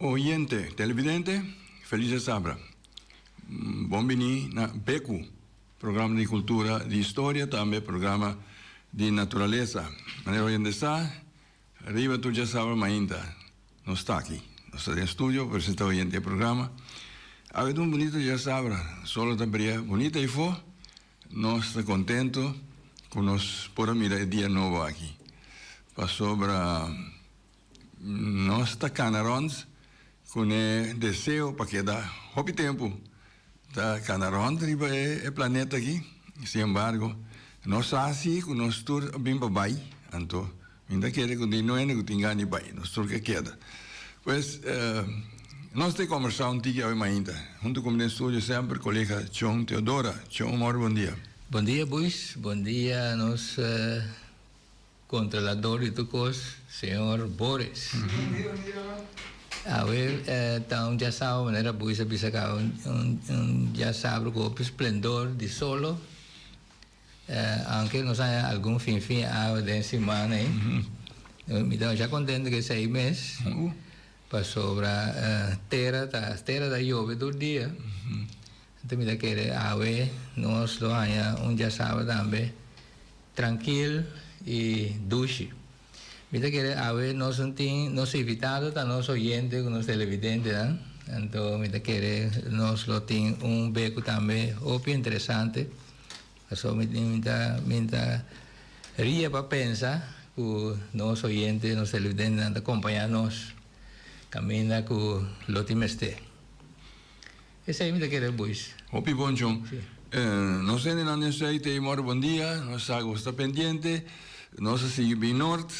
Oyente, televidente, feliz e sabra. Bon bini na Beku, programa di kultura, di historia, tambe programa di naturalesa. Manera oyente sa, riba tur dje sabra mainta nos ta aki, nos ta den studio presenta oyente e programa. Awe ta un bunito dje sabra, sol a ta bria bunito aifo. Nos ta contento cu nos por a mira e dia nobo aki, pasobra nos ta cana rond cu n'e deseo pa keda hopi tempu ta cana rond riba e planeta aki. Sin embargo, nos sa si cu nos tur a bin pa bay, anto Mi ta kere ku di no hende ku tin gana di bai, nos tur ke keda. Pues, nos ta e kombersá un tiki awe mainta, huntu ku mi den studio semper, kolega Chon Teodora. Chon, un òrbe bondia. Bondia Buis, bondia nos kontrolador di tur kos, señor Boris. Awe ta un djasabra, manera Buis a bisa akaba, un djasabra ku hopi splendor di solo. Aunke nos a haña algun fin fin awe den simana ei, mi ta masha kontentu ku esei mes, pasobra tera ta tera ta yobe tur dia, enton mi ta kere awe nos lo haña un diasabat tambe trankil i dushi. Mi ta kere awe nos tin nos invitado ta nos oyente ku nos televidentenan anto mi ta kere nos lo tin un beku tambe hopi interesante paso mi mi ta mi ta ria pa pensa ku nos oyente nos televidentenan ta kompañá nos kaminda ku lo tin mester. Esei mi ta kere boys. Hopi bon chon. Nos hende nan den study tei morro bon dia. Nos sa ku bo sta pendiente. Nos a sigui bin Nort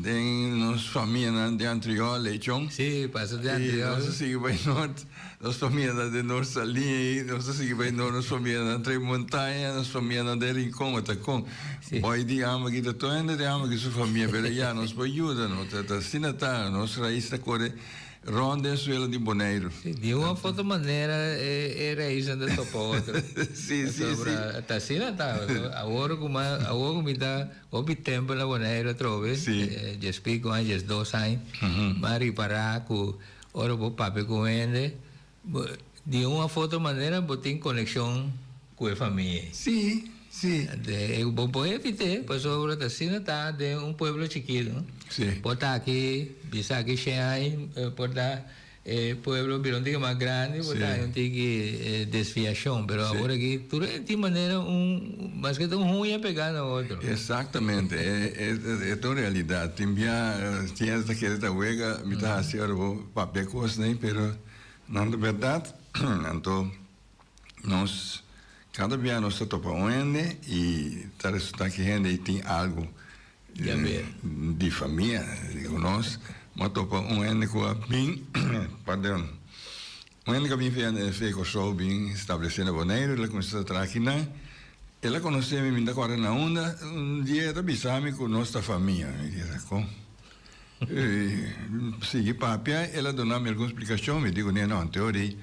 den nos famia nan den Antriol lei chon. Si, pasa den Antriol. I nos a sigui bai Nort. Nos famia nan den Nort Salin ei. Nos a sigui bai Nort nos famia nan Tres Montaña, nos famia nan den Rincon ota kon. Si. Bai di ama ki ta tur hende den ama ki su famia pero ya nos por yuda no ta ta asina ta nos rais ta kore. Rond den suelo di Boneiru. Si, di un of otro manera e raisnan ta topa otro. Si, si, si. Ta asina ta. Awor ku mi, awor ku mi ta hopi tempu na Boneiru atrobe. Si. Dies piko aña, dies dos aña. Mi a ripará ku ora bo papia ku un hende. Bo, di un of otro manera bo tin konekshon ku e famia ei. Sí, sí. Te, bo por evit'é, pasobra ora ta asina ta den un pueblo chikitu. Sí. Por ta aki, bisa aki Shanghai, por ta e pueblo bira un tiki mas grandi, por ta hay un tiki desviashon, pero awor aki tur tin manera un. Maske ta un huña pegá na otro. Exactamente. E ta un realidad. Tin bia ciensa ta kere ta wega, mi ta haci ora bo papia cosnan ei, pero nan ta berdad. Anto nos cada bia nos ta topa un hende y ta resulta ki hende ei tin algo. di famia digo nos m'a topa un hende ku a bin pardon un hende ku a bin via Kòrsou bin stablesé na Boneiru el a kuminsá ta traha aki nan el a konosé mi mi ta kòrda na unda un dia el ta bisa mi ku nos ta famia mi bisa kon sigui papia el a duna mi algun splikashon mi di kuné no anteori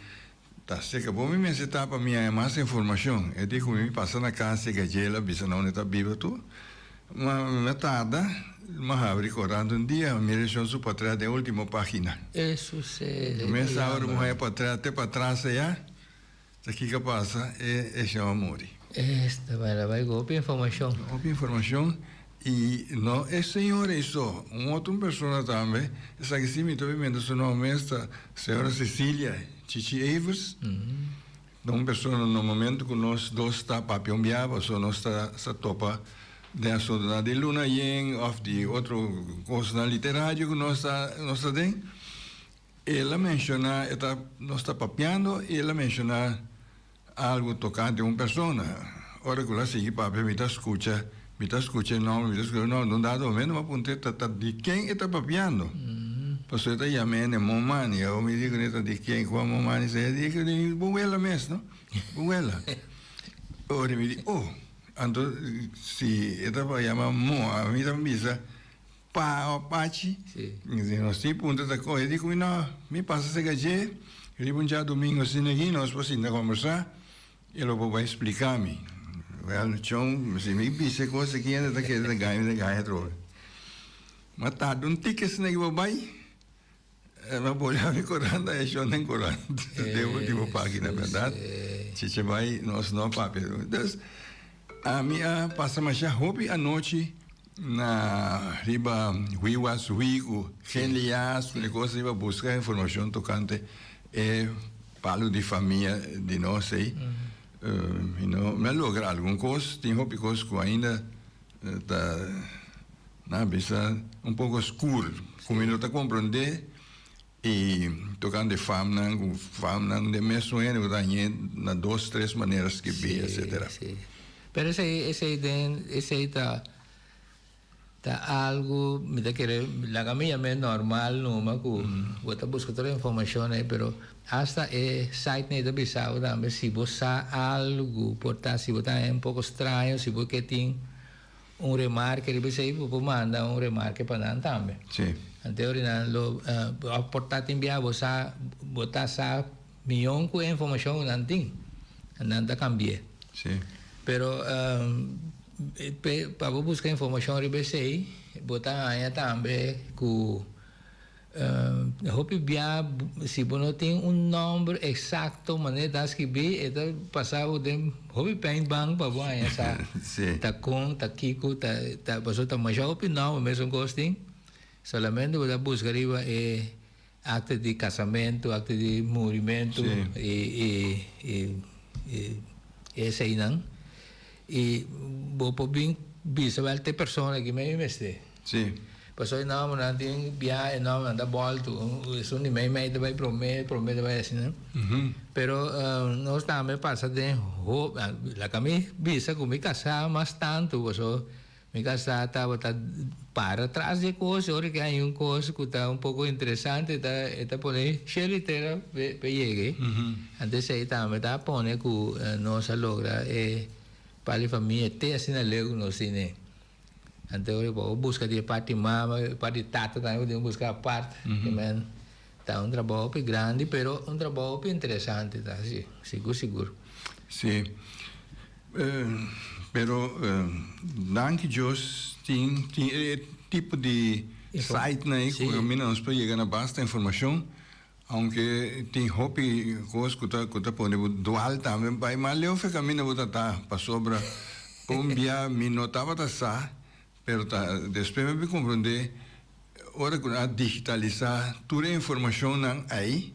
Ta seka bo mi mester ta pa mi haña mas informacion. E di cu mi mi pasa na cas di Gajela bisa na unda e ta biba tu. Ma mi a tarda. Mi a habri corant un dia mi recion su portret den ultimo pagina. E sucede, e ta Mes awe ora mi haña portret te pa atras eya ta kica pasa e eccion a muri. Esta mera bay cu hopi informacion. Hopi informacion I no e señora ei so, un otro persona tambe, esaki si mi ta obi menta su nom mes ta señora Cecilia Chichi Evers, ta un persona normalmente cu nos dos ta papionbiaba, so nos ta sa topa den asuntunan di luna yen of di otro cosnan literario cu nos ta nos ta den, el a menciona e ta nos ta papiando i el a menciona. Algu tokante un persona. Ora ku el a sigui papia, mi ta skucha, mi ta skucha e nòmber, mi ta skucha e nòmber. Na un dado momento mi a puntra e tata di ken e ta papiando. Pasó e ta yama e ne momani. Awo mi di kuné, di ken ku a momani sa? E a di, e di bo wela mes, no? Bo wela. Ora mi di, oh! Anto si e ta yama mò, mi ta bisa. Pa Apache. Si nos tin punto ta coge di cu no mi pasa seca dje riba un dja domingo asina aki nos por sinta conversa e lo por bai explica mi well chon si mi bisa e cos aki hende ta kere ta gana mi ta gana atrobe ma tarde un tiki asina aki por bai Hermano Poli a mi coran ta eshon den coran den ultimo pagina verdad cheche bay nos no papia dus a mi a pasa masha hopi anochi na riba hui was hui cu gen lias cu negocio riba busca informacion tocante e palo di famia di nos ey mi no mi a logra algun cos tin hopi cos cu ainda Ta na bisa un poco skur. Como e no ta comprende y tocando e famnan cu famnan den mesun hende cu ta añe na dos tres manera skibi etcetera. Si, si. Pero esey, esey den, esey ta, ta algo, mi ta kere laga mi yam'e normal numa, cu bo ta busca tur e informacion ey, pero. Hasta e site nei ta bisa bo tambe si bo sa algu por ta si bo ta un poco straño si bo ke tin un remarke riba esei bo por manda un remarke pa nan tambe. Sí. Antes ori nan lo òf por ta tin bia bo sa bo ta sa miyon ku e informashon ku nan tin nan ta kambi'é. Sí. Pero pa bo buska informashon riba esei bo ta haña tambe ku. Hopi bia si bo no tin un nomber exacto manera ta skibi e ta pasa bo den hopi paint ban pa bo haña sa ta con ta kico ta ta pasobra ta masha hopi nomber mesun cos tin solamente bo ta busca riba e acta di casamento acta di murimento y y y y eseinan y bo por bin bisa wel te persona aki me mi mester. Sí. Pasobra e nòmbernan tin biaha, e nòmbernan ta bòltu. Esun di mei mei ta bai promé, promé ta bai asina. Pero nos tambe pasa den hopi, laga mi bisa ku mi kasá mas tantu, pasobra mi kasá tabata para tras di e kos, ora ke hay un kos ku ta un poko interesante ta e ta pone sheritere pa e yega ei. Anto esei tambe ta pone ku nos a logra e pali famia te asina leu ku nos tin ei. Anto ora bo buska di e part di mama, e part di tata tambe bo tin ku buska apart. Ki men ta un trabou hopi grandi pero un trabou hopi interesante ta si, sigur sigur. Si. Pero danki Dios tin tin e tipo di sitenan ei ku kaminda nos por yega na basta informashon. Aunke tin hopi cos cu ta cu ta pone bo dual tambe bai mal leu fe camina bo ta ta pasobra un bia mi no tabata sa pero ta despues mi a bin compronde ora cu nan a digitalisa tur e informacion nan ai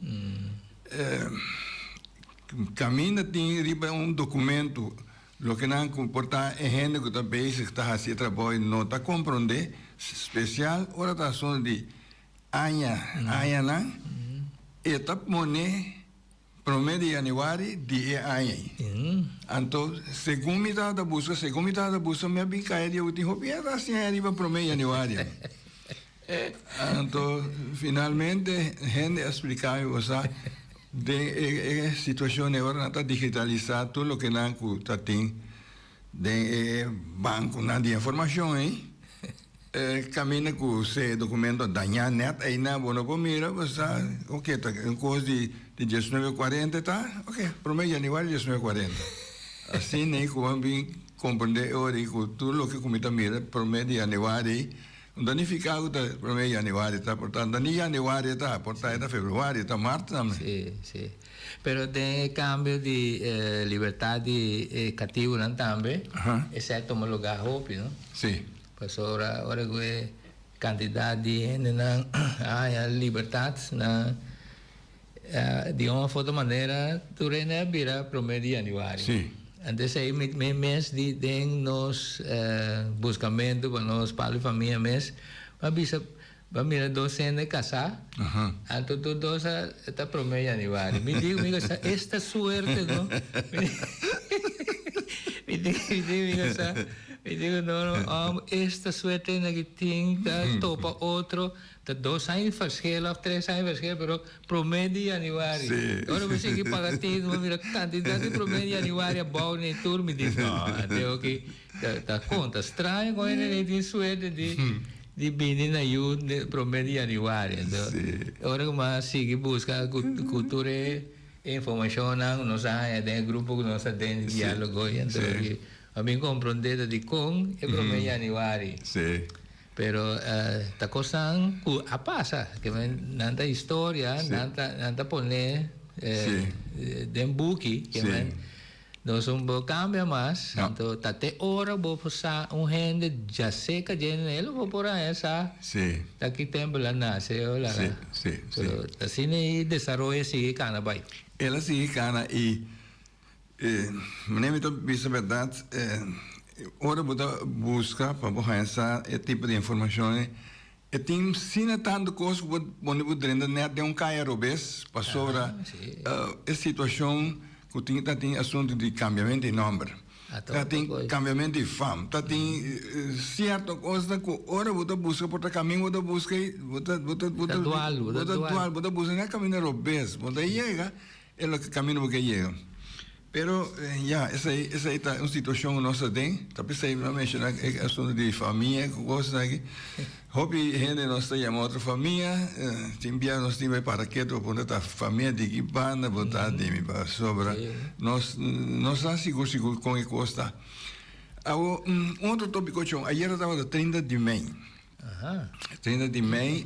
camina tin riba un documento loke nan cu por ta e hende cu ta bezig ta haci e trabao y no ta compronde special ora ta asunto di aña añanan e ta pone prome di januari di e aña ei. Anto segun mi tabata buska segun mi tabata buska mi a bin kaya di e ultim hopi a ta hasiña riba prome di januari mi anto finalmente hende a splika mi por sa den e situacion ei ora nan ta digitaliza tur loke nan ku ta tin Den e bankunan di informashon ei, kaminda ku se dokumento a dañá nèt eina bo no por mira, bo sa oke ta un kos di diesnueve kuarenta e ta oke promé yanüari diesnueve kuarenta. Asin nei ku bo a bin komprendé e ora ei ku tur loke ku mi ta mira promé di yanüari ei un danifiká ku ta promé di yanüari ta por ta un dani yanüari e ta por ta e ta februari e ta mart tambe. Pero den e cambio di e libertad di e cativonan tambe esey a tuma lugar hopi, no? Si. Pasobra ora cu e cantidad di hendenan a haña libertad, nan a di un of otro manera tur hende a bira prome di januari. Si. Anto esey mi mi mes di den nos buscamento pa nos palo di famia mes mi a bisa Bo a mira dos hende kasá, anto tur dos a ta promé yanüari. Mi diku mi kasa, esta suerte no. Mi diku mi kasa, mi diku no no, òm, esta suerte hende aki tin ta topa otro, ta dos aña di fershel òf tres aña di fershel, pero promé di yanüari. Ora bo sigui paga teken, bo a mira kantidat di promé di yanüari a bou ne'e tur, mi di no, anto e oki Ta conta straño con hende de tin suerte di bini na yu prome di januari. Ento, ora cu mas sigui busca cu tur e informacionnan cu nos a haña den e grupo cu nos aden di dialogo y ento di a bin compronde ta dicon e prome di januari. Pero ta cosnan cu a pasa, que nan ta historia, nan ta pone den buki, que men. Nos un bo cambia mas, anto ta te ora bo por sa un hende dja seca dje ne lo bo por haña sa ta ki tempel a nace o laga. So asina y desaroyo a sigui cana bay. El a sigui cana y meneer mi ta bisa berdad ora bo ta busca pa bo haña sa e tipo di informacionnan E tin sina tantu kos ku por pone bu drenta nèt den un kaya robes pasobra e situashon ku tin ta tin asuntu di kambiamentu di nòmber, ta tin kambiamentu di fam, ta tin sierto kosnan ku ora bo ta buska por ta kaminda bo ta buska bo ta dual bo ta buska na e kaminda robes bo ta yega. E loke camino bo ke yega. Pero ya esai esai ta un situacion cu nos ta den, ta pesai mi a menciona e asunto di famia cu cos asina aki. Hopi hende di nos ta yama otro famia, tin bia nos tin bay para keto pa puntra ta famia di ki banda bo ta di mi pasobra nos no sa sigur sigur con e cos ta. Awo un otro topico con ayer a tabata trinta di mei, trinta di mei.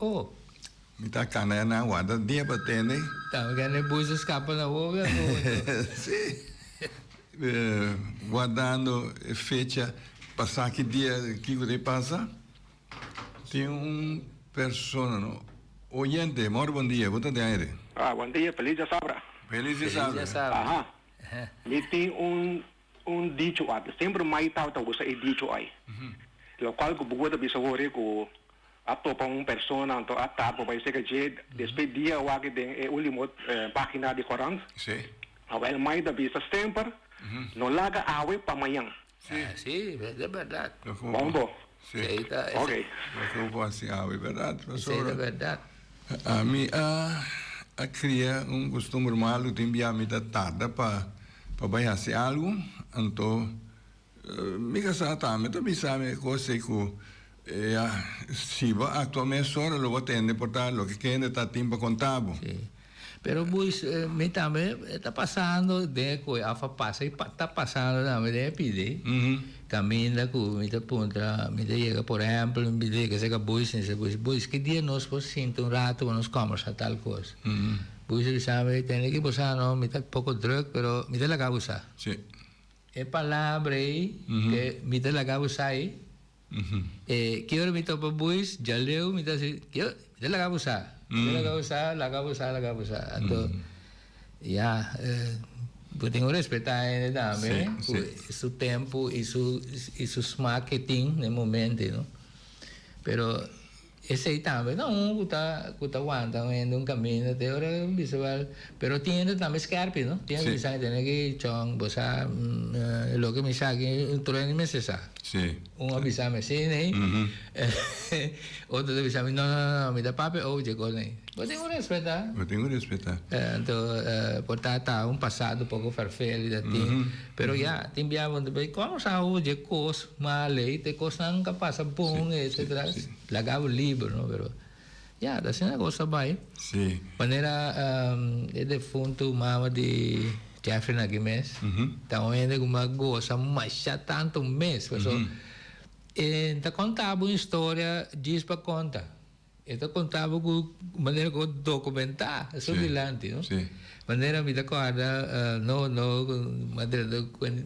Oh! Mi ta cana e nan wanta dia pa tene. Ta mi cana e buzo scapa na wowo e mundo. Si! Guardando e fecha pa sa ki dia kico ta e pasa. Tin un persona, no? Oyente, more bon dia. Bo ta den aire? Ah, bon dia. Feliz Diasabra. Feliz Diasabra. Aha. Mi tin un Un dicho apa, semper mai tau ta usa e dicho ai. Lo cual cu bubo ta bisa horia cu a topa un persona anto a tapa bai seca dje, despues dia awaki den e ulimo pagina di corant, awel mai ta bisa semper, no laga awe pa mañan. Así, es de berdad. Bon bo, Sí. Kei ta ese. Oké. Lo ke bo por hasi awe, berdad, Esei ta Pastor? berdad. Ami a a kria un kustumber malu tin bia mi ta tarda pa pa bai hasi algu, anto mi ka sa ta mi ta bisa mi e kos ei ku ya si bo aktua mesora lo bo tende por ta loke kende ta tin pa konta bo. Sí. Pero pues mi tambe ta pasando den e koe af a pasa i ta pasando tambe den e pidi kaminda ku mi ta puntra mi ta yega por ehèmpel mi ta yega seka boys mi ta bisa boys boys ki dia nos por sinta un ratu pa nos kòmbersa tal kos boys ta bisa mi tende ki bo sa no mi ta poko drùk pero mi ta laga bo sa e palabra ei ke mi ta laga bo sa ei. E ki ora mi topa buis djaleu mi ta si ki ora mi ta laga bo sa mi ta laga bo sa laga bo sa laga bo sa anto ya bo tin ku respetá hende tambe ku i su tempu i su smak ke tin na e momente no pero. Esei tambe ta un ku ta ku ta wanta un hende un kaminda te ora bistevel. Pero tin hende tambe skèrpi, no? Tin hende ki sa e tene ki chong, bo sa e loke mi sa aki, un trueni mester sa. Un a bisa mi si nei, otro ta bisa mi no, no, no, mi ta papia e ou dje kos nei. Bo tin ku respetá. Bo tin ku respetá. Anto por ta ta un pasado un poko vervelig, ta tin. Pero ya, tin biaha bo ta bay, con nos a oye e cos mal ey, te cosnan ta pasa bon ey, etcetera, laga bo liber, no? Pero, ya, ta asina cu nos ta bay. Manera e defuntu mama di Jefferyn aki mes, ta un hende cu mi a goza masha tanto mes, pasobra e ta conta bo un historia djis pa conta. E ta contaba cu manera cu documentá esun dilanti, no? Sí. Manera mi ta cuarda, no, no,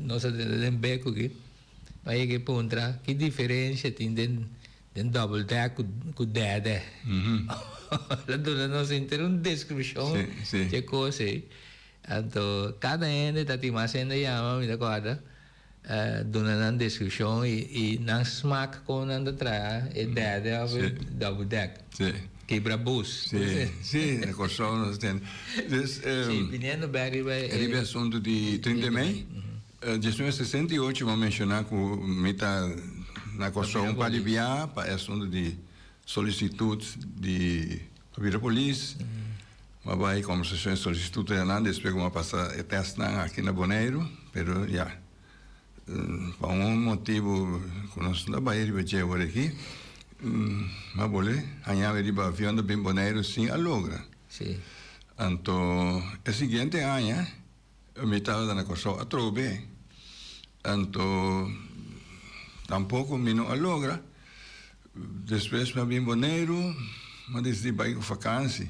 nos a drenta den bek cu ki, pa e ke puntra ki diferencia tin den, den double deck cu, cu derde. Ora duna nos henter un descripcion dje cos ei. Anto, cada hende ta tin mas hende yama, mi ta cuarda. Duna nan descripcion y nan smaak como nan ta traha e derde of e double deck. Kibra bus. Si, na Corsou nos a tende. Dus. Si, biniendo bek riba e. Riba e asunto di trinta di mei. Djasnumero sesenta i ocho bo menciona cu mi ta na Corsou un par di bia pa e asunto di solicitud di. A bira polis, m'a bai e conversacion, e solicitud cu Hernando, e spreco m'a pasa e testnan aki na Boneiru, pero ya, pa un motibu cu nos no a bai riba dje ora aki, m'a bolbe hañawe riba avion ta bin Boneiru sin a logra. Anto, e siguiente aña. Mi tabata na Kòrsou atrobe, anto tampoko mi no a logra. Despues mi a bin Boneiru, mi a desidí bai ku fakansi.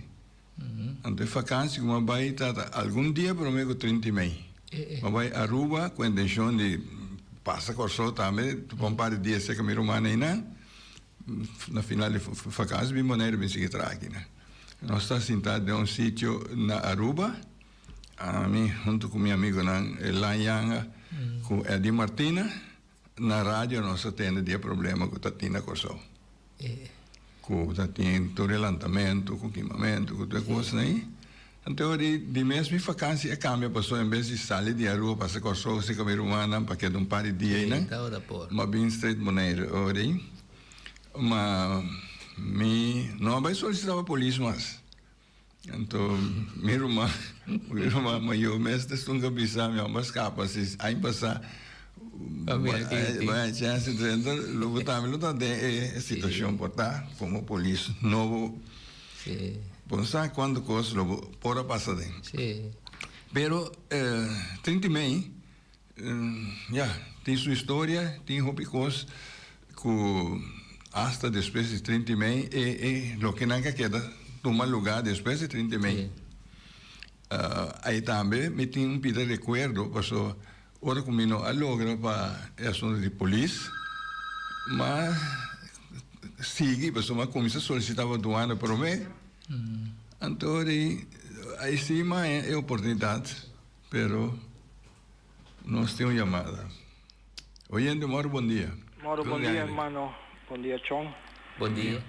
Anto e fakansi ku mi a bai tabata algun dia promé ku trinta i mei. Mi a bai Aruba ku intenshon di pasa Kòrsou tambe pa un par di dia seka mi rumannan einan. Na final di fakansi bin Boneiru bin sigui traha aki nan. Nos ta sintá den un sitio na Aruba. Ami huntu ku mi amigunan Elan Yanga ku Eddy Martina na radio nos a tende di e problema ku ta tin na Kòrsou. Ku ta tin tur e lantamentu ku kimamentu ku tur e kosnan ei. Anto ora di di mes mi fakansia a kambia pasó en bes di sali di Aruba pasa Kòrsou serka mi rumannan pa keda un par di dia einan mi a bin streit Boneiru ora ei. Ma mi no a bai solisitá pa polis mas. Anto mi ruma mi ruma mayo mes ta stunga bisa mi amba skapa si aña pasa bay chance drenta lo bota mi lo ta den e situacion por ta como polis no bo bo no sa cuanto cos lo bo por a pasa den pero trinti mei Ya, tin su historia, tin hopi cos cu hasta despues di trinta y mei e e loke nan ca keda tuma lugar despues di trinta y mei. Ahi tambe mi tin un pida recuerdo paso ora cu mi no a logra pa e asunto di polis m'a sigui paso m'a cuminsa solicita pa duana prome anto di ahi si m'a haya e oportunidad. Pero nos tin un yamada. Oyente moro bondia. Moro bondia hermano bondia chon. Bondia.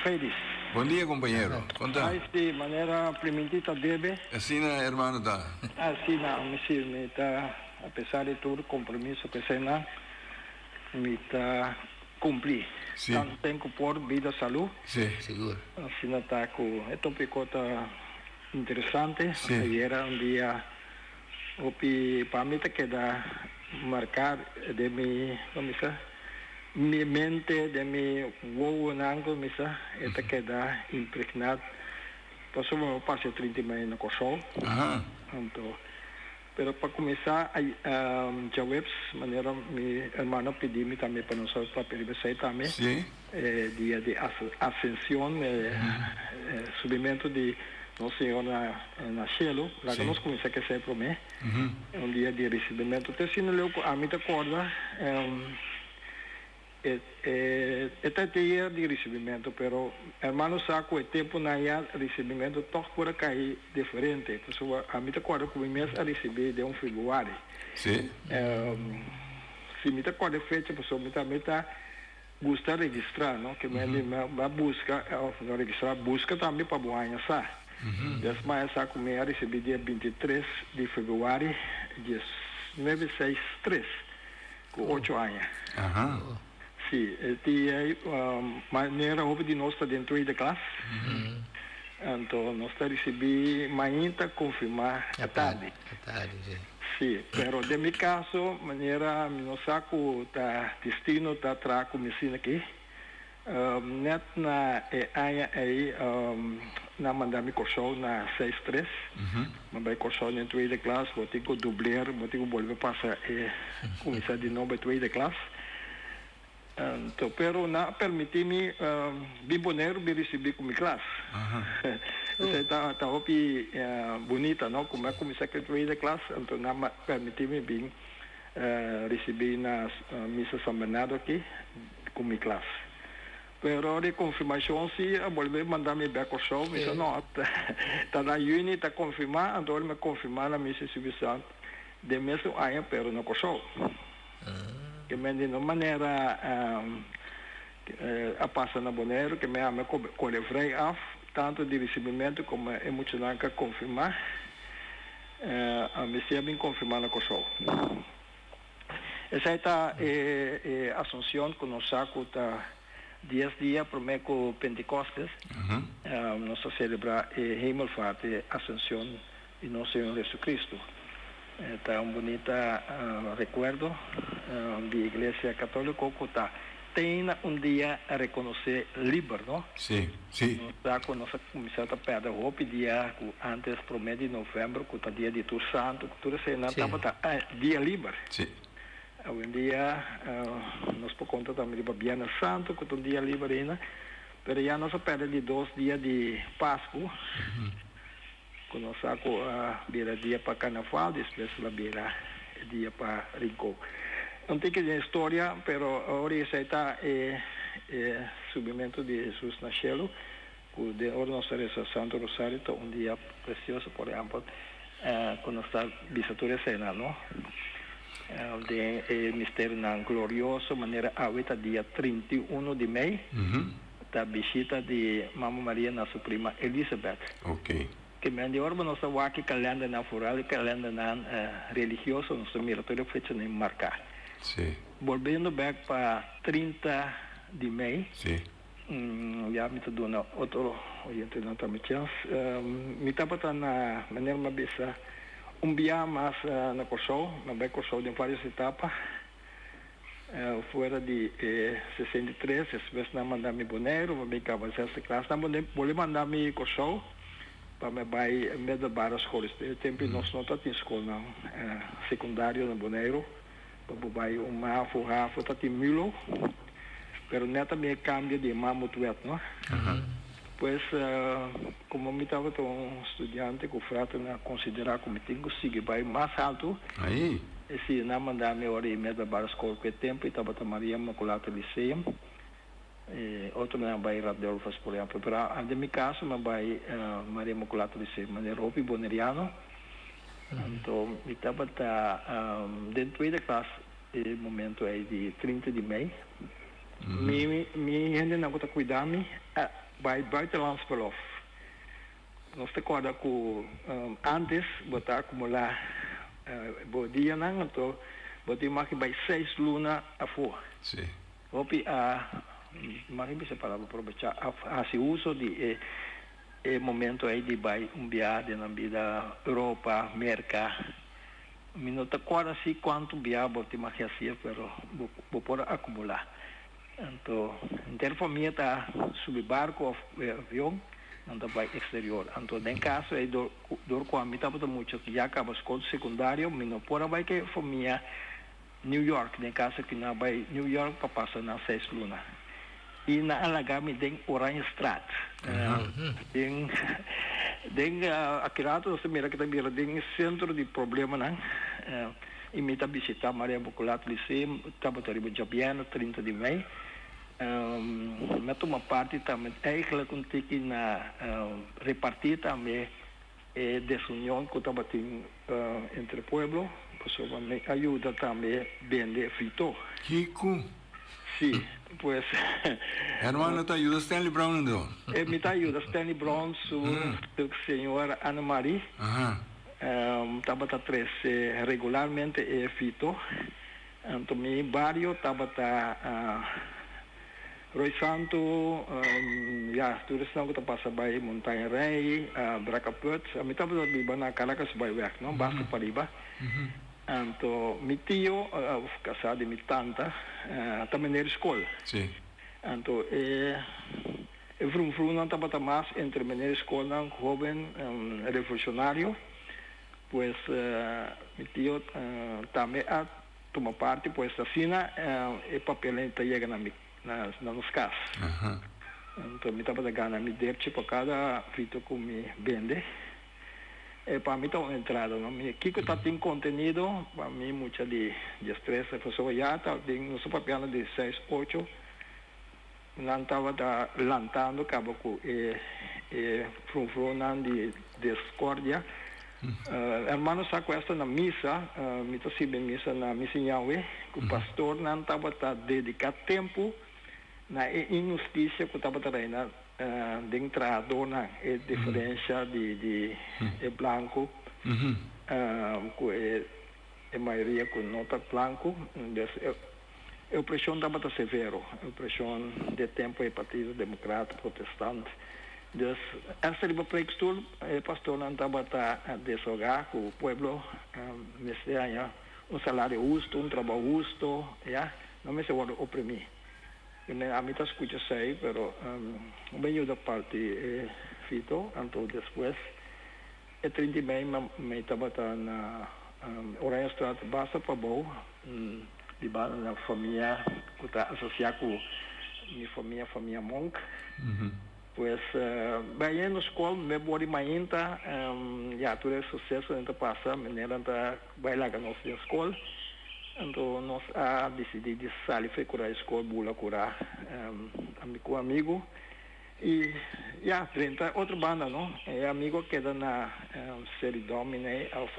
Fredis. Bondia compañero con ta. Ai si manera priminti ta debe. Asina hermano ta. Asina mi si mi ta apesar di tur compromiso cu esey nan mi ta cumpli tanten cu por vida salud. Si. Sigur. Asina ta cu e topico ta. Interesante ayera un dia hopi pa mi ta keda marca den mi como mi sa mi mente den mi wowonan como mi sa e ta keda imprigna pasobra mi a pasa e trinta y medio na Kòrsou anto pero pa cuminsa djaweps manera mi hermano a pidi mi tambe pa nos papel riba esey tambe. E dia di Asension, e subimentu di nos Señor na cielo, laga nos cuminsa kese prome, un dia di ricibimentu. Te asina leu cu ami ta corda, e ta e teyer di ricibimentu, pero hermano sa cu e temponan ya ricibimentu toch por a cay diferente, pasobra ami ta corda cu mi mes a ricibi den un Februari, si mi ta corda e fecha pasobra mi tambe ta. Gusta registra no ke men di men a buska òf no registra buska tambe pa bo aña sa des maya sa ku mi a risibí dia binti tres di febrüari dies nuebe seis tres ku ocho aña si e dia ei manera hopi di nos ta den tweede klas anto nos ta risibí mainta konfirmá e tardi. Sí, pero den mi caso manera mi no sa cu ta destino ta traha cu mi asina aki, net na e aña ey nan manda mi Corsou na seis tres, mi a bay Corsou den tweede klas, bo tin cu dubleer, bo tin cu bolbe pasa e cuminsa di nou bay tweede klas, Anto, pero nan a permití mi bin Boneiru bin risibí ku mi klas. Esei ta ta hopi bunita, no? Ku mi a kuminsá ku e tweede klas, anto nan a permití mi bin risibí na Misa San Bernardo aki ku mi klas. Pero ora e konfirmashon si a bolbe manda mi bèk Kòrsou, mi bisa, no, ta na Juni ta konfirmá, anto ora mi a konfirmá na Misa Espiritu Santu den mes un aña, pero na Kòrsou. Ke men di no manera a pasa na Boneiru, ke men ame kore vrei af, tantu di risibimentu komo e muchanan ka konfirmá, a mester a bin konfirmá na Kòrsou. Esei ta e Asunsion ku nos sa ku ta dies dia promé ku Pentekostes, nos ta selebrá e Hemelvaart, e Asunsion di nos Señor Jesucristo. Ta un bunita recuerdo di Iglesia Catolico cu ta tey na un dia reconoce liber, no? Si, si. Nos sa cu nos a cuminsa ta perde hopi dia cu antes prome di november cu ta dia di tur santo cu tur esey nan tabata dia liber. Si. Awendia nos por conta tambe riba Biernes Santo cu ta un dia liber ayna, pero ya nos a perde di dos dia di Pascu. Ku nos sa ku a bira dia pa karnaval despues lo bira e dia pa rinkó. Un tiki den historia, pero ora esei ta e e subimentu di Hesus na shelu, ku den ora nos ta resa Santu Rosario ta un dia presioso, por ehèmpel ku nos ta bisa tur esei nan no, den e misterionan glorioso manera awe ta dia trinta i uno di mei. Ta bishita di Mama Maria na su prima Elisabet. Te men di ora bo nos ta wak kalendernan, foral e kalendernan religioso, nos ta mira tur e fechanan marká. Bolbendo bèk pa trinta di mei, ya mi ta duna otro oyentenan tambe chèns. Mi tabata na manera mi a bisa un biaha mas na Kòrsou, mi a bai Kòrsou den vários etapa. Fuera di e sesenta i tres es mes nan manda mi Boneiru pa mi kaba zesde klas. Nan bolei manda mi Kòrsou pa mi bai middelbare skol. E tempu nos no ta tin skolnan sekundario na Boneiru pa bo bai un mafo, hafo. Tatin mulo pero nèt a mi e kambio di e mamutwet, no. Pues, komo mi tabata un studiante ku frater nan a konsiderá ku mi tin ku sigui bai mas haltu, e siño nan a mandá mi ora i mi a tabal skol ku e tempu i tabata Maria Immaculata Lyceum, i otro nan a bai Radulfus, por ehèmpel. Pero a den mi kaso mi a bai Maria Immaculata Lyceum, manera hopi boneriano. Anto mi tabata den tueda klas e momento ei di trinta di mei. Mi mi hendenan ku ta kuidá mi a bai buitenlands belòf. Nos ta kòrda ku ántes bo ta akumulá bo dianan anto bo tin maki bai seis luna afó. Hopi a maki bisa palabra probechá a hasi uso di e e momento ei di bai un biaha den nan bida Europa, Merka. Mi no ta cuarda si cuantu biaha bo tin maki hacia pero bo por a acumula. Anto henter famia ta subi barco of avion nan ta bay exterior. Anto den caso ey dor cu ami tabata mucha ya caba scool secundario mi no por a bay cu e famia. New York, den caso cu nan bay New York pa pasa nan seis luna. Y nan a laga mi den Oranjestraat. Den, den aki rato nos ta mira cu ta bira den e centro di problemanan. Y mi ta bishita Maria Immaculate Lyceum tabata riba djabiena trinta di mei. Mi a tuma parti tambe, eigenlijk un tiki na reparti tambe. E desunion cu tabatin entre pueblo pasobra mi a yuda tambe bende frito. Kico? Si, pues. Hermano ta yuda Stanley Brown ando? E mi ta yuda Stanley Brown su señor Annemarie. Tabata trece regularmente e frito. Anto mi bario tabata Roy Santo, ya tur esnan cu ta pasa bay Montaña Rey, Bracaput. Mi tabata biba na Caracas Byweg, no? Basta pariba. Anto mi tio, casá di mi tanta, ta mender scol. Anto e e vrun vrunnan tabata mas entre mender scolnan, hoben, revolucionario. Pues mi tio tambe a tuma parti, pues asina e papelen ta yega na mi, na nos cas. Anto mi tabata gana mi derchi pa cada frito cu mi bende. E pa mi ta un entrada, no? Mi kico ta tin contenido, pa mi mucha di diestresza, pasobra ya ta den nos papia di seis, ocho. Nan tabata lantando caba cu e e frunfrunnan di discordia. Hermano sa cuesta na misa, mi ta sirbi misa na Misa Ñawe, cu pastornan tabata dedica tempo na e inhusticia cu tabata reina den trahadornan, e diferencia di di e blanco cu e mayoria cu no ta blanco. E opreshon tabata severo, e opreshon di e tempu e partido demokrat, protestant. Dus hasta riba preekstoel e pastornan tabata desoga ku pueblo mester haña un salario husto, un trabou husto, ya, no mester wòrdu oprimí. Preme ami ta skucha esei, pero un beniuda parti e fito, anto despues. E trinta i mei mi tabata na Oranjestraat basta pa bou di banda na famia ku ta asosia ku mi famia, famia Monk. Pues bai ayina nos skol mi bou di mainta ya tur e susesonan ta pasa menenan ta bai laga nos den skol anto nos a disidi di sali frekurá e skol bula kurá ami ku amigu. I ya, frente otro banda no, e amigo keda na seri domine of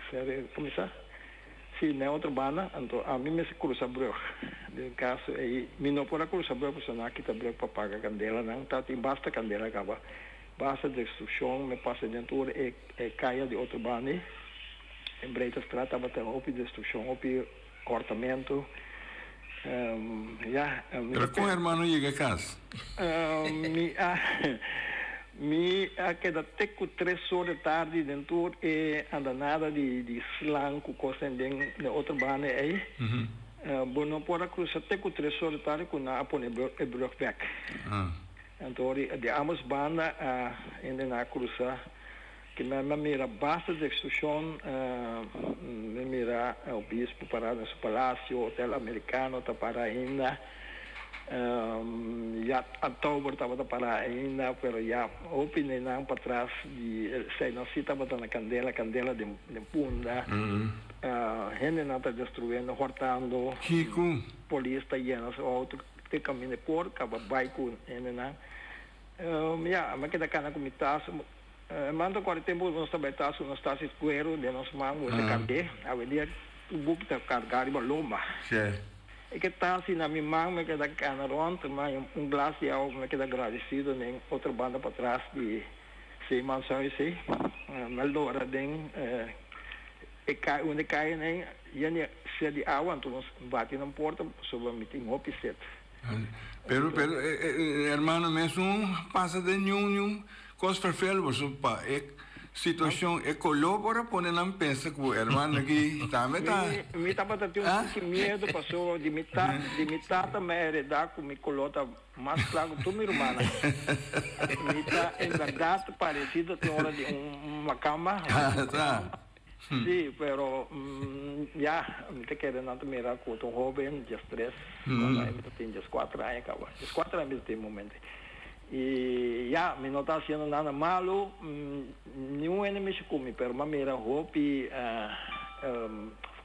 seri kumisa, si n'e otro banda, anto ami mester krusa brug. Den kaso ei mi no por a krusa brug pasobra no a kita brug pa paga kandelanan, ta tin basta kandela kaba, basta destrukshon, mi a pasa den tur e kaya di otro banda ei, e Breitastraat tabata hopi destrukshon, hopi. Cortamentu, ya. Pero con hermano yega cas? Mi a mi a keda te cu tres or de tardi den tur e andanada di slan cu cosnan den den otro banda ey. Bo no por a crusa te cu tres or de tardi cu nan a pone e brug bek. Anto di ambos banda a hende nan a crusa Tin men me mira basta di extorsion, me mira obispo para den su palacio, hotel americano ta para ainda, yat Antauber tabata para ainda, pero ya hopi nenan patras di eseinan si tabata na candela, candela den punda, hendenan ta destruendo, hortando, polis ta yena su auto te caminda por caba bay cu hendenan, ya me keda cana cu mi tas. Manda kua tempu nos ta bai tas ku nos tas di kueru den nos man wen ta kandé. Awendia ku buki ta kargá riba lomba. E ke tas di na mi man mi a keda kena rònt, ma un glas di awa mi a keda agradisido den otro banda patras di Zeemanshuis ei. Mi a lora den e kai unda e kaya nei, yen di sèt di awa, anto nos bati nan porta, pasobra mi tin hopi sèt. Pero pero e hermano mes no pasa den niun niun cos vervel boso pa e situacion e color por a pone nan pensa cu hermano aki tambe ta Mi tabata tin un poco miedo pasobra di mi tata di mi tata mi a hereda cu mi color ta mas cla cu tur mi rumannan. Mi ta en berdad parecido tin ora di un macamba. Sí, pero ya, mi ta kere nan ta mira cu ta un hoben dies tres, cuando aña mi ta tin dies cuater aña caba, dies cuater aña mi ta tin momento. Y ya, mi no ta haciendo nada malo, ni un hende mishi cu mi, pero mi a mira hopi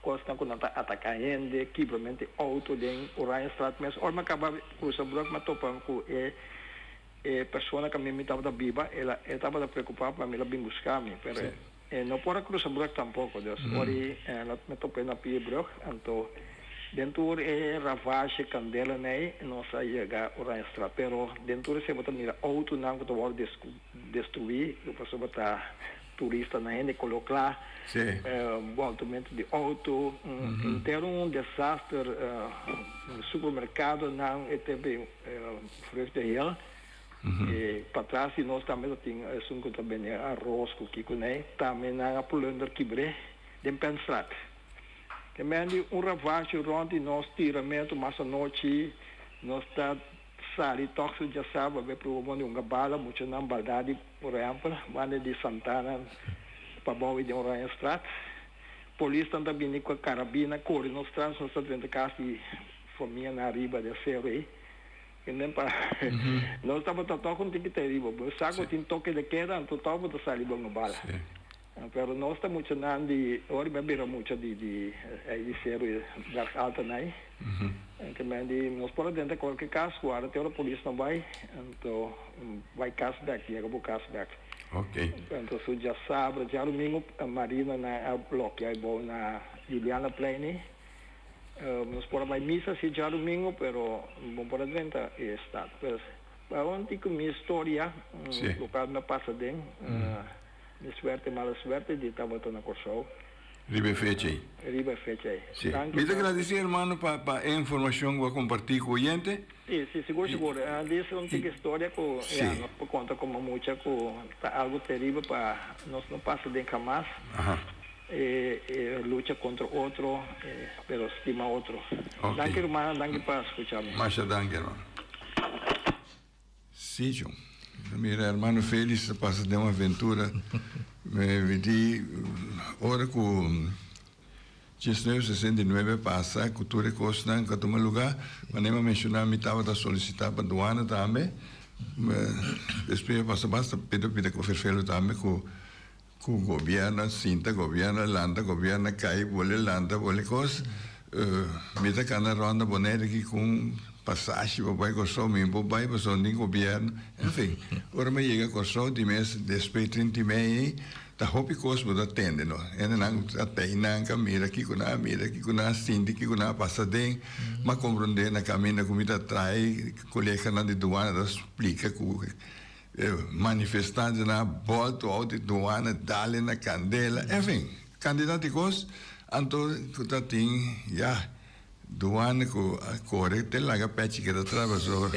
cosnan cu nan ta ataca hende, kibramente auto den Oranjestraat mes. Ora mi a caba cruza Brook mi a topami cu e e persona cu mi tabata biba, e tabata preocupa pa mi, el a bin buscami, pero E no por a crusa brug tampoco, dus ori me topa e na pie brug, anto den tur e ravage candela nei nos a yega Oranjestraat, pero den tur esey bo ta mira autonan cu ta worde descu, destrui, lo paso bo ta turista nan hende colo cla, boltament di auto, intero un desaster, supermercadonan, e te be vrucht de hel, E patras di nos tambe ta tin esun ku ta bende aros ku kiko nei. Tambe nan a pulunder kibr'é den Penstraat. Te bendi un ravasio rònt di nos tiramentu mas anochi. Nos ta sali tòg su djasap a bai pruba bon di un gabala. Mucha nan baldá di Rempel banda di Santana pa bou i den Oranjestraat. Polisnan ta bini ku e karabina kore nos tras. Nos ta drenta kas di famia nan ariba den seru ei. Enten pa nos tabata tok un tikete riba bo sa ku tin toke de keda anto tok bo ta sali bo ngabal pero nos ta mucha nan di ora mi a bira mucha di di di seru berg alta nai ke men di nos por a denta kualke kas ku ara te ora polis no bai anto bai kas bek yega bo kas bek anto su diasabra diarumingu marina nan a blokia e bou na Juliana plein ni. Nos por a bai misa si e djadumingu, pero bo por a drenta e estat. Pues, bai un tico mi historia, local mi a pasa den, mi suerte, mala suerte, di tabata na Corsou. Riba e fecha ei. Riba e fecha ei. Danki brother. Mi ta gradici hermano pa e informacion cu a comparti cu oyente. Si, si, sigur, sigur. Dis un tic historia cu ya nos por conta como mucha cu ta algo terrible pa nos no pasa den hamas, e lucha contra otro, pero stima otro. Danki ruman, danki pa scucha mi. Masha danki hermano. Si cu, ta mira hermano Felix ta pasa den un aventura, me vidi ora cu. Diecinueve sesenta i nuebe pasa cu tur e cosnan cu a tuma lugar, ma Neema menciona, mi tabata solicita pa duana tambe, despues mi a pasa basta pida pida cu Vervelo tambe cu cu gobierno a sinta, gobierno a lanta, gobierno a cay, bole a lanta, bole cos, mi ta cana ronda Bonaire aki cu un pasashi pa bay Corsou, mi bo bay pasobra nin gobierno, enfin, ora mi a yega Corsou di mes despues di trinta i mei, Ta hopi cos bo ta tende no. Hende nan a tey nan ka mira kico nan a mira, kico nan a sinti, kico nan a pasa den. M'a comprende na caminda cu mi ta traai coleganan di Duana ta splica cu e manifestantenan a bolto out di Duana, dale na candela, en fin, cantidad di cos. Anto cu ta tin ya. Duan cu a core te laga pechi keda trabasó.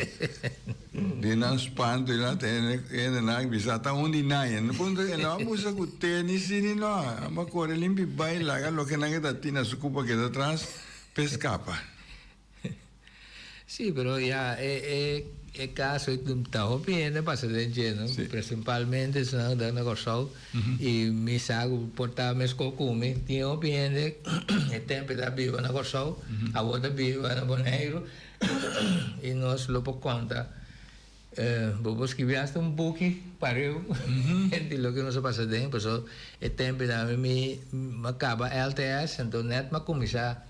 Di nan spanto y nan ta hende, hende nan a bisa ta un di nan. Hende puntra, e lo a busa cu tenis si di no. Amo a core limpi bay laga loke nan e ta tin na su cupa keda tras p'e scapa. Sí, pero ya e caso ta hopi hende pasa den dje, no? Sí. Principalmente esnan cu ta na Corsou y mi sa cu por ta mesco cu mi, tin hopi hende e tempo ta biba na Corsou, awo ta biba na Boneiru y nos lo por conta, bo por scribi hasta un buki pariu di loke nos a pasa den, paso e tempo dame mi, mi a caba LTS, enton net mi a cuminsa.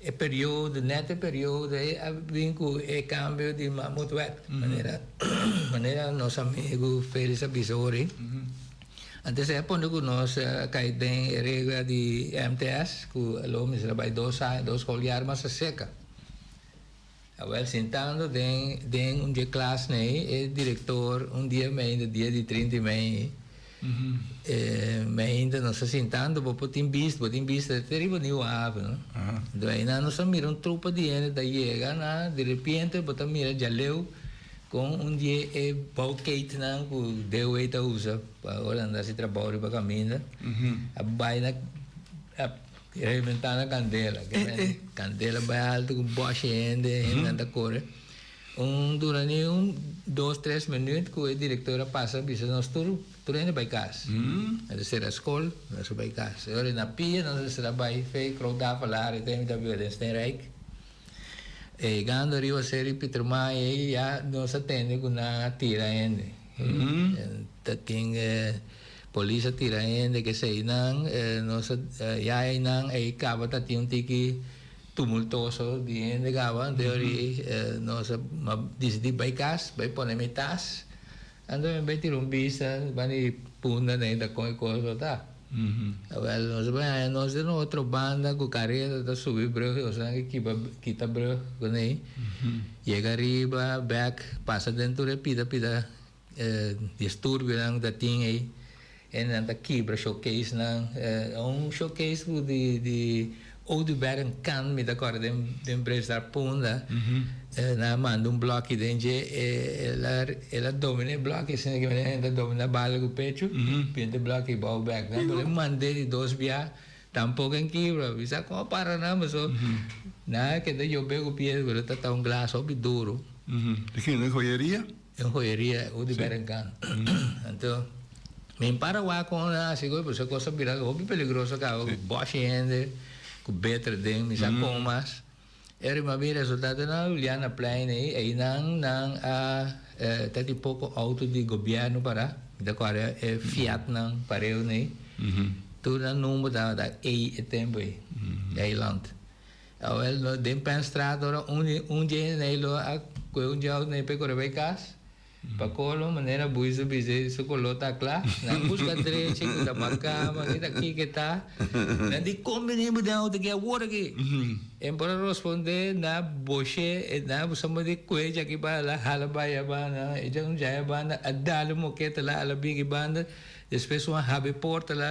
E periodo, net e periodo ei a bin ku e kambio di mamotwet, manera manera nos amigu Felix a bisa ori. Antes ei a pone ku nos a kai den e regla di MTS ku lo mester a bai dos aña, dos skol jaar mas a seka. Awel sintando den den un di e klasnan ei, e direktor un dia mi ainda dia di trinta i mei, e mi ainda nos a sintando, bo por tin bista, bo tin bista ta riba New Haven, no? Enton einan nos a mira un trupa di hende ta yega na, di repiente bo ta mira Djaleu con un di e bouwketennan cu Dewey ta usa pa ora a nda haci trabou riba caminda, a bai na, a Kera e bentana candela, kera bentana di candela bay alto cu boshi hende, hendenan ta core. Un dura ni un dos, tres minuut cu e director a pasa a bisa nos tur, tur hende bay cas. Nan ta cera scol, nos a bay cas. E ora e na pia nos a sra bay fe crouda falari ta imita Willem Steenrijk. E gando ariba serie Pieter Maai ey ya nos a tende cu nan a tira hende. Ta tin e. Polis a tira hende ke eseinan. Nos a yaha einan. Ei kaba ta tin un tiki tumultoso di hende kaba. Anto ori nos a disidi bai kas, bai pone mi tas. Anto mi a bai tira un bista riba di punda na e ta kon e kos lo ta. Awel nos a bai haña nos den otro banda ku kareta ta subi brug i otro nan kiba kita brug kuné. Yega riba bèk pasa den tur e pita pita. E disturbionan ku ta tin ei e nan ta kibra showcasenan. E un showcase ku di Oduber Nkan mi ta kòrda den Brezar Punda. E nan a manda un blòki den dje. El a domina e blòki asina ku manera hende ta domina bala ku pechu. Pinta e blòki i bou bèk nan. Bo lo manda e di dos bia, tampok a kibra. Mi sa kon a para nan. Pasobra nan a keda yob'é ku pies, pero e ta tau un glas hopi duru. Di kin? Di joyeria? Den hoyeria e udi berenkan. Anto mi para wak kon a hasi goi pues e kos a bira hopi peligroso kaba ku bòshi hende ku beter den mi sa kon mas. Eri mas bin resultadonan nan a luliá na plein ei, einan nan a ta tin poko outo di gobièrnu pará. Mi ta kòrda e Fiatnan pareu nei. Tur nan number tabata ei e tempu ei, eiland. Awel no den pèn strat ora un dje n'ei lo a koe un djau n'ei p'e kore bai kas pa kolo manera Buizo bis'e su kolo ta kla nan buska drechi ku ta marká pa kita kiko e ta nan di kon bini bo den outo aki awor aki e por a rospondé na bosh'e e na suma di koe djaki banda hala bai a banda e djau djai a banda a dal un moketa la ala bigi banda despues wan hab'e porta la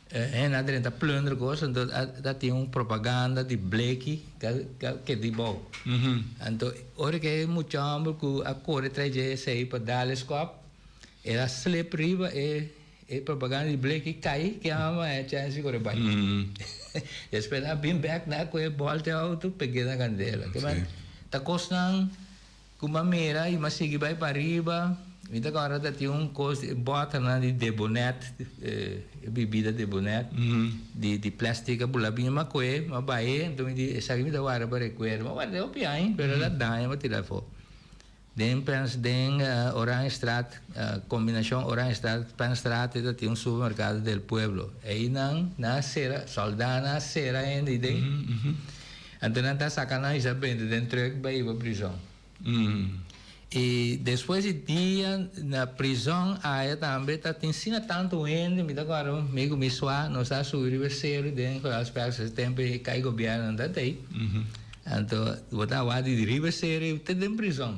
E hende a drenta plunder cos anto a tin un propaganda di bleki ca ca keda di bou. Anto ora cu e muchaomber cu a core trae dje esey pa dale scop el a slip riba e e propaganda di bleki cay ki a mama e chance di core bay. Despues nan a bin back nan a coge bolta e auto pegey na candela. Ta cosnan. Ku manera i mas sigui bai pariba, mi ta kòrda ta tin un kos di e bòtana di debonèt, e bibida debonèt di plèstik a bulá biña makoe, a baie. Anto mi di esaki mi ta warda pa rekuerdo. Mi a warda e hopi aña, pero el a daña, mi a tira afó. Den Pèns, den Oranjestraat, kombinashon Oranjestraat, Pènsstraat ei ta tin un supermerkado del pueblo. Einan nan a sera, sòldánan a sera hende ei den. Anto nan ta saka nan i sa bende den truk bai iba prizon. I despues di dia na prizon aya tambe ta tin asina tantu hende, mi ta akorda mi ku mi sua nos ta subi riba e seru den Kreuzberg se tempo e kai gobièrnu nan ta tei. Anto bo ta wak di riba e seru i te den prizon.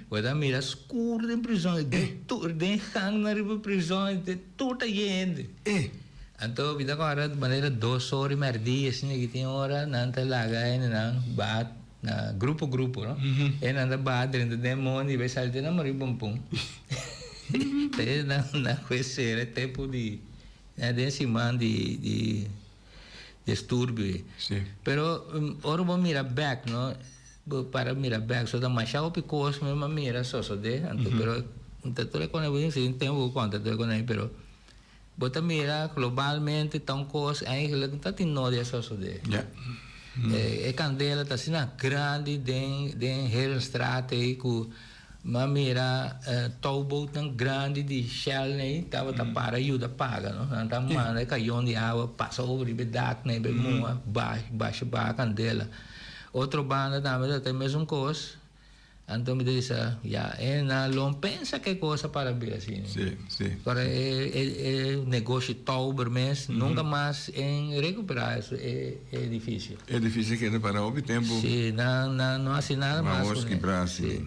Bo ta mira skuru den prizon, den gangnan riba prizon. Tur ta yen hende. E. Anto mi ta kòrda manera dos ora i merdí e siña ki tin ora nan ta laga hendenan baha na grupo grupo no. E nan ta baha drenta den mondi bai sali te nan morí bumpun. Te nan nan kues sera e tempu di den siman di di. disturbio ei. Sí. Pero ora bo mira bek, no, bo para mira bek, so ta mashá hopi kos mi a mira sosodé, anto pero no ta tur e kona bo si tempo bo konta tur e kona ei, pero bo ta mira globalmente ta un kos eigenlijk no ta tin nodia sosodé. Ja. E kandela ta asina grandi den den Heerenstraat ei ku M'a mira toubootnan grandi di Shell n'ei tabata para yuda paga, no. Nan ta manda e kayon di awa pasa over riba e dak n'ei pa e muha basha baha kandela. Otro banda tambe ta ta e mesun kos. Anto mi ta di sa, ya, Ena, lo un pensa ke kosa para bi asina. Kora e negoshi touber mes nunka mas e recuperá e. e edifisio. E edifisio a keda para hopi tempu. Si, nan nan no hasi nada mas. Nan awos kibra si. Si.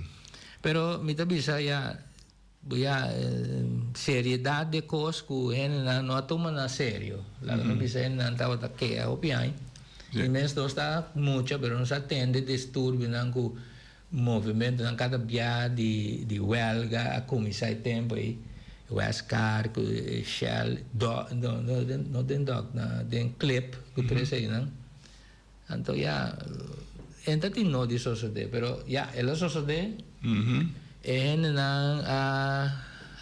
Pero mi ta bisa ya, bo ya seriedad di e kos ku hendenan no a tuma nan serio. Laga mi bisa hendenan tabata kea hopi aña. E mensdosnan mucha pero no sa tende disturbionan ku. Movimentonan kada bia di huelga a cuminsa e tempo ey, Westcar cu Shell, doc, no, no den, no den doc, na den clip cu tres eynan, anto ya, e ta tin no di sosode, pero ya, e lo sosode, e hendenan a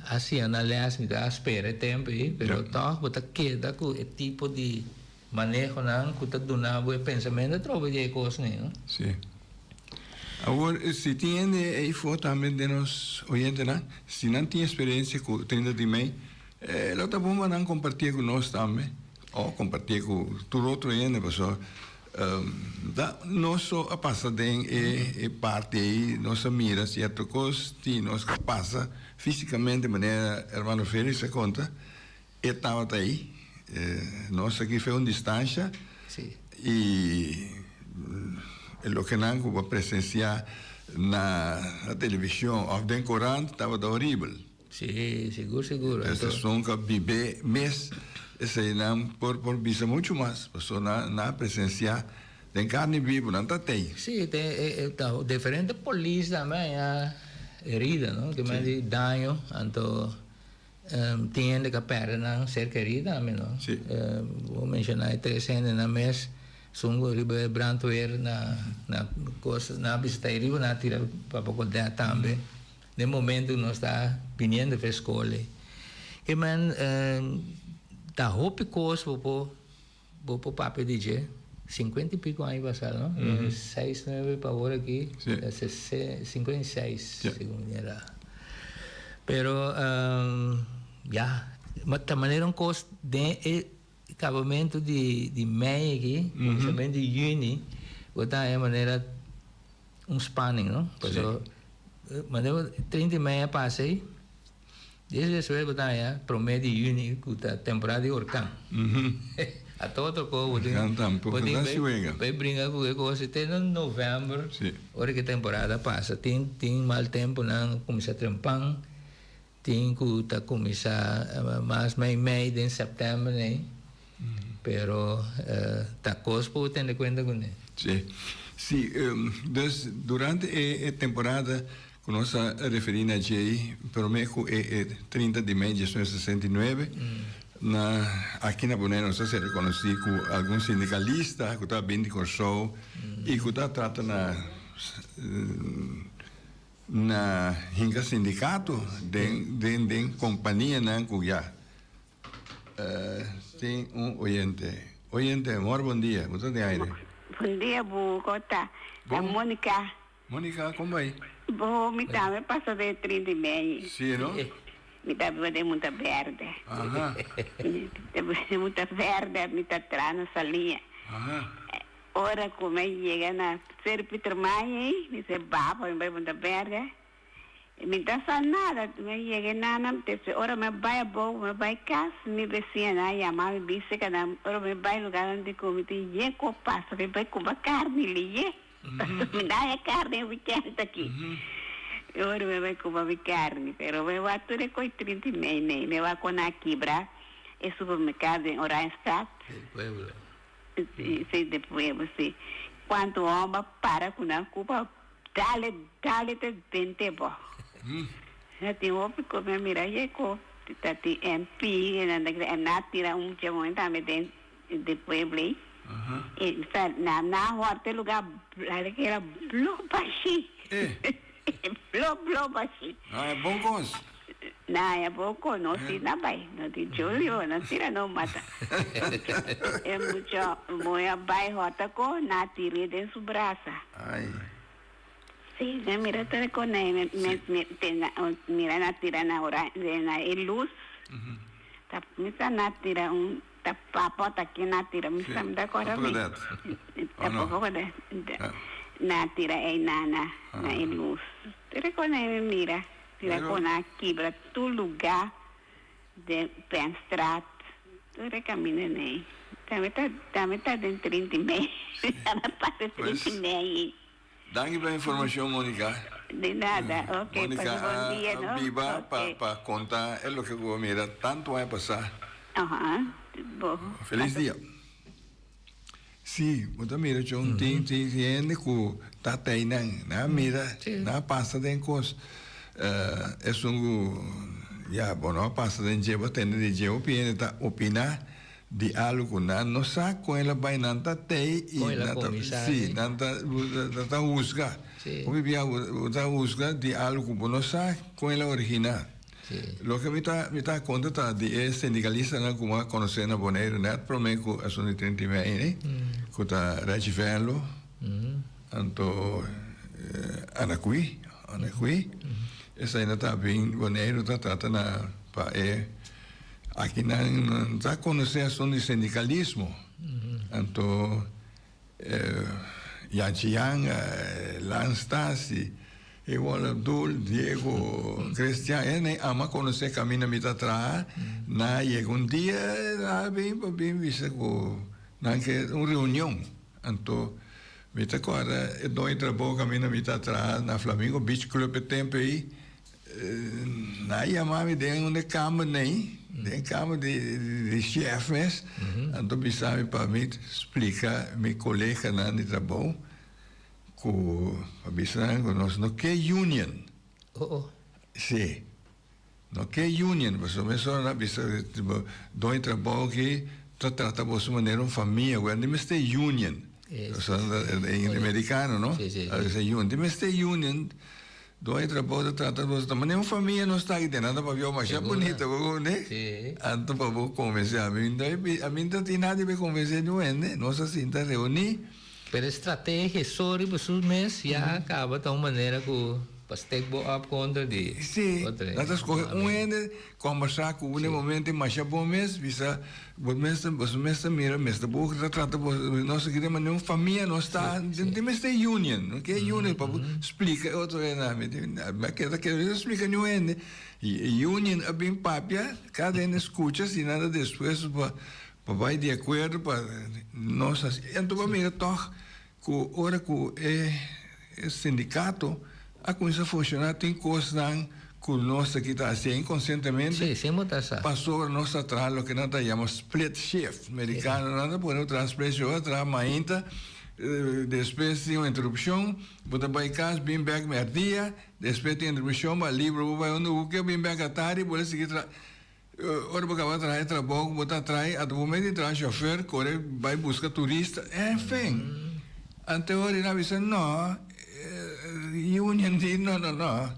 hacienda les mi ta spera e tempo ey, pero toch bo ta keda cu e tipo di. Manehonan cu ta duna bo e pensamentu atrobe di e cosnan, no? Sí. Awor, si tin hende ey for tambe den nos oyentenan, si nan tin experiencia cu tende di mey, lo ta bon pa nan compartié cu nos tambe, o compartié cu tur otro hende, pasobra ta nos so a pasa den e parti ey, nos a mira cierto cos tin nos cu a pasa fisicamente, manera hermano Felix a conta, E tabata ei. Nos a kib'e un distansha i e loke nan ku bo a presensiá na televishon òf den korant tabata horibel. Sí, sigur, sigur. Esun ku a bib'é mes esei nan por por bisa muchu mas, pasobra nan nan a presensiá den karni bibu, nan ta tei. Sí, te ta diferente polis tambe a herida, no? Kimen di daño, anto. Tin hende cu a perde nan ser kerido tambe, no? Si. Bo menciona e tres hendenan mes, Sungu riba e brandweer na, na cos, nan a bisita ahi riba, nan a tira pa boca dea tambe, den momento cu nos ta biniendo fes cole. Ke men, ta hopi cos bo por. Bo por papia di dje, sinkuenta i piku aña pasá, no? E seis nueve pa awor aki ta sese, sinkuenta i seis, segun mi mirá. Pero, ya, ma ta manera un kos den e kabamentu di, di mei aki, kuminsamentu di yüni, bo ta haña manera un spanning, no? Pasobra, manera treinta i mei a pasa ei. Di es despues ku ta haña promé di yüni ku ta temporada di orkan. A toko toko bo tin bo tin bai bai bringa ku e kos te na novèmber ora ku e temporada pasa. Tin tin mal tempunan kuminsá trempan, tin ku ta kuminsá mas mei mei den sèptèmber nei, pero ta kos pa bo tende kuenta kuné. Si, si. Dus durante e temporada Cu nos ta referi na djey prome cu e e trinta di mei diecinueve sesenta y nueve, na aki na Bonei nos ta ser reconoci cu algun sindicalista cu ta bin di Corsou y cu ta trata na na hinca sindicato den den den companianan cu ya tin un oyente. Oyente, mor bon dia. Bu ta den aire. Bon dia, bu. Con ta? Ta Monica. Monica, kon bai? Bo, mi tambe pasa den e trin di Meñi. Sí no? Mi ta biba den Munta Berde. Aha. Mi ta biba den Munta Berde, mi ta tra na Salia. Aha. Ora ku mi a yega na Seri Pietermaai ei, mi se baba mi bai Munta Berde. Mi ta sa nada, mi a yega ei nana, despues ora mi a bai abou, mi a bai kas, mi besiñanan a yama mi, bisekenan, ora mi bai luganan di ku mi tin ye ku a pasa, mi bai kumba karni liye. Mi na haya carni e weekend aki. Mi worde mi a bay cuba mi carni, pero mi wak tur e coy trinta y mei mei. Mi wak con a kibra e supermercado den Oranjestad. Del Pueblo. Si, del Pueblo, si. Cuanto homber a para cu nan cuba, dale, dale ta den te bo. Ta tin hopi cu mi a mira, yeko, ta tin MP, nan ta kere, na tira un mucha moen tambe den. di pueblei i sa na na hor te luga blari ke era blo bashi blo blo bashi na haya bon kon nos na haya bon kon nos si na bai nos di julio na tira nos mata e mucha moe a bai hor ta ko na tiri den su brasa si na mira ta ko na mira na tira na ora den na e luz ta misa na tira un Ta papa ta ki na tira mi sa mi ta kora mi ta papa ko de na tira ei na na na e luz tira ko na mi mira tira ko na kibra tur luga den pen strat tur e kaminda nei ta mi ta ta mi ta den trinti mei ta mi pasa trinti mei. Danki pa e informacion Monica. Di nada ok pasa bon dia no. Monica a biba pa conta e loke cu a mira tanto aña pasa. Feliz dia. Si bo ta mira con tin tin tin hende cu tatay nan nan a mira nan a pasa den cos esun cu ya bo no a pasa den dje bo a tende den dje hopi hende ta opina di alugunan no sa con el a bay nan ta tey y nan ta si nan ta nan ta husga hopi bia bo ta husga di algo cu bo no sa con el a origina loke mi ta mi ta conta ta di e sindicalistanan cu bo a conoce na Boneiru net prome cu asun di trinta y mei ni cu ta Reggie Venlo anto Anacqui Anacqui esai nan ta a bin Boneiru ta trata nan pa e Aki nan ta conoce asun di sindicalismo. Anto Jan Chijanga, Lan Stasi, igual Abdul, Diego, Christian, e nan ama conoce caminda mi ta traha, nan a yega un dia nan a bin pa bin bisa cu nan ke un reunion. Anto mi ta cuadra e dogno di traboho caminda mi ta traha na Flamingo Beach Club e tempo ey, Nan a yama mi den un e kamer nei, den e kamer di di shèf mes, anto bisa mi pa mi splika mi koleganan di trabou ku a bisa nan ku nos no ke union. Sí, no ke union pasobra mesora nan a bisa done trabou aki ta trata boso manera un famia, wèr no mester union, pasobra amerikano, no? Di mester union. Don e trabou ta trata nos ta mane un famia nos ta aki den nada pa biou masha bunita bo konde anto pa bo konvensé ami ami no ta tin nada pa konvensé niun hende nos a sinta reuni. Pero e strategia so riba su mes ya a kaba ta un manera ku pa stek bo op kontra di otro hende. Si nan ta skohe un hende. Kombersá ku bo na e momentu i masha bon mes, bisa bo mes ta boso mes ta mira mes ta bo ta trata bo nos a kere manera un famia nos ta tin mester e union no ke union pa bo splika e otro hende ami tin a ke ta kere mester splika niun hende i e union a bin papia kada hende a skucha si nan ta dispuesto pa pa bai di akuerdo pa nos hasi enton bo a mira tog Ku ora ku e sindikato a kuminsá funshoná tin kosnan ku nos ta kita hasié inkonsientemente, pasobra nos ta traha loke nan ta yama split shift, merikanonan ta pone bo traha split shift, bo ta traha mainta, despues tin un interupshon, bo ta bai kas bini bèk mèrdia, despues tin interupshon bo a libra bo bai unda bo ke, bini bèk atari, bo a sigui traha. Ora bo kaba traha e trabou ku bo ta traha ata bo mester traha shofèr kore bai buska turista. Enfin, antehorin nan a bisa nò, union di nò nò nò.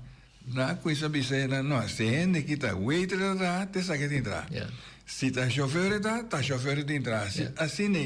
Nan a kuinsa bisa e nan, nò, si hende ki ta waiter ta traha, ta esaki e tin traha. Si ta shofèr e ta, ta shofèr e tin traha. Asina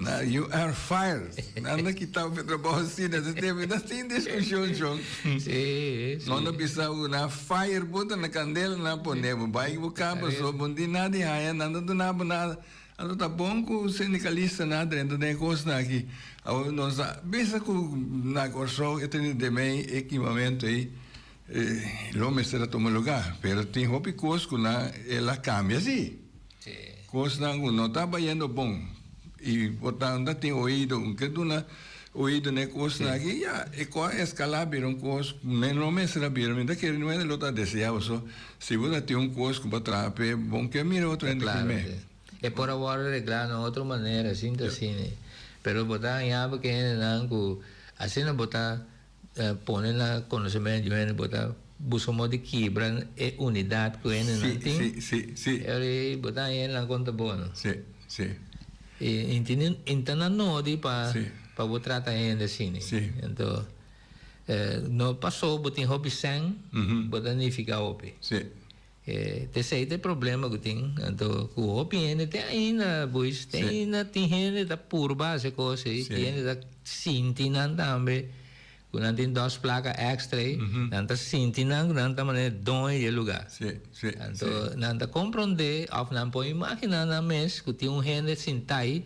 Nan, you are fired. Nan a kita bo trabaho asina. Esaki tempo no tin diskushon, chon. Nan a bisa bo, nan a fire bo, ta na kandela nan a pone bo. Bai ki bo kaba so, bo no tin nada di haña, nan no ta duna bo nada. Anto ta bon ku sindikalistanan a drenta den e kosnan aki. Awor nos a bisa ku na Kòrsou e tene den mei e kimamentu ei, lo mester a tuma lugá. Pero tin hopi kos ku nan el a kambia sí. Cosnan cu no ta bayendo bon. Y bo ta unda tin oido, un ke duna oido n'e cosnan aki, ya, e cos a escala bira un cos cu men no mester a bira. Men ta kere nuel e lo ta desea boso. Si bo ta tin un cos cu bo traha p'e, bon ke mira otro hende cu me. Claro ke. E por a wordo regla na otro manera, asin ta asina. Pero bo ta haña bo ke hendenan cu asina bo ta. pone na konosementu di hende bo ta buska un modo di kibra e unidat ku hendenan tin. Sí, sí, sí, sí. I ora ei bo ta haña hendenan konta bo, no? Sí, sí. I ntende i ta na nodi pa Sí. pa bo trata hende así, ne? Sí. Anto eh, no paso bo tin hopi sèn, Ujú. bo ta nifiká hopi. Sí. E p'esei ta e problema ku tin. Anto ku hopi hende te ainda pues te ainda tin hende ta purba hasi e kos ei. Tin hende ta sinti nan tambe ku nan tin dos plaka èkstra ei. Nan ta sinti nan ku nan ta manera e doño di e lugá. Anto nan ta komprondé òf nan por imaginá nan mes ku tin un hende sintá ei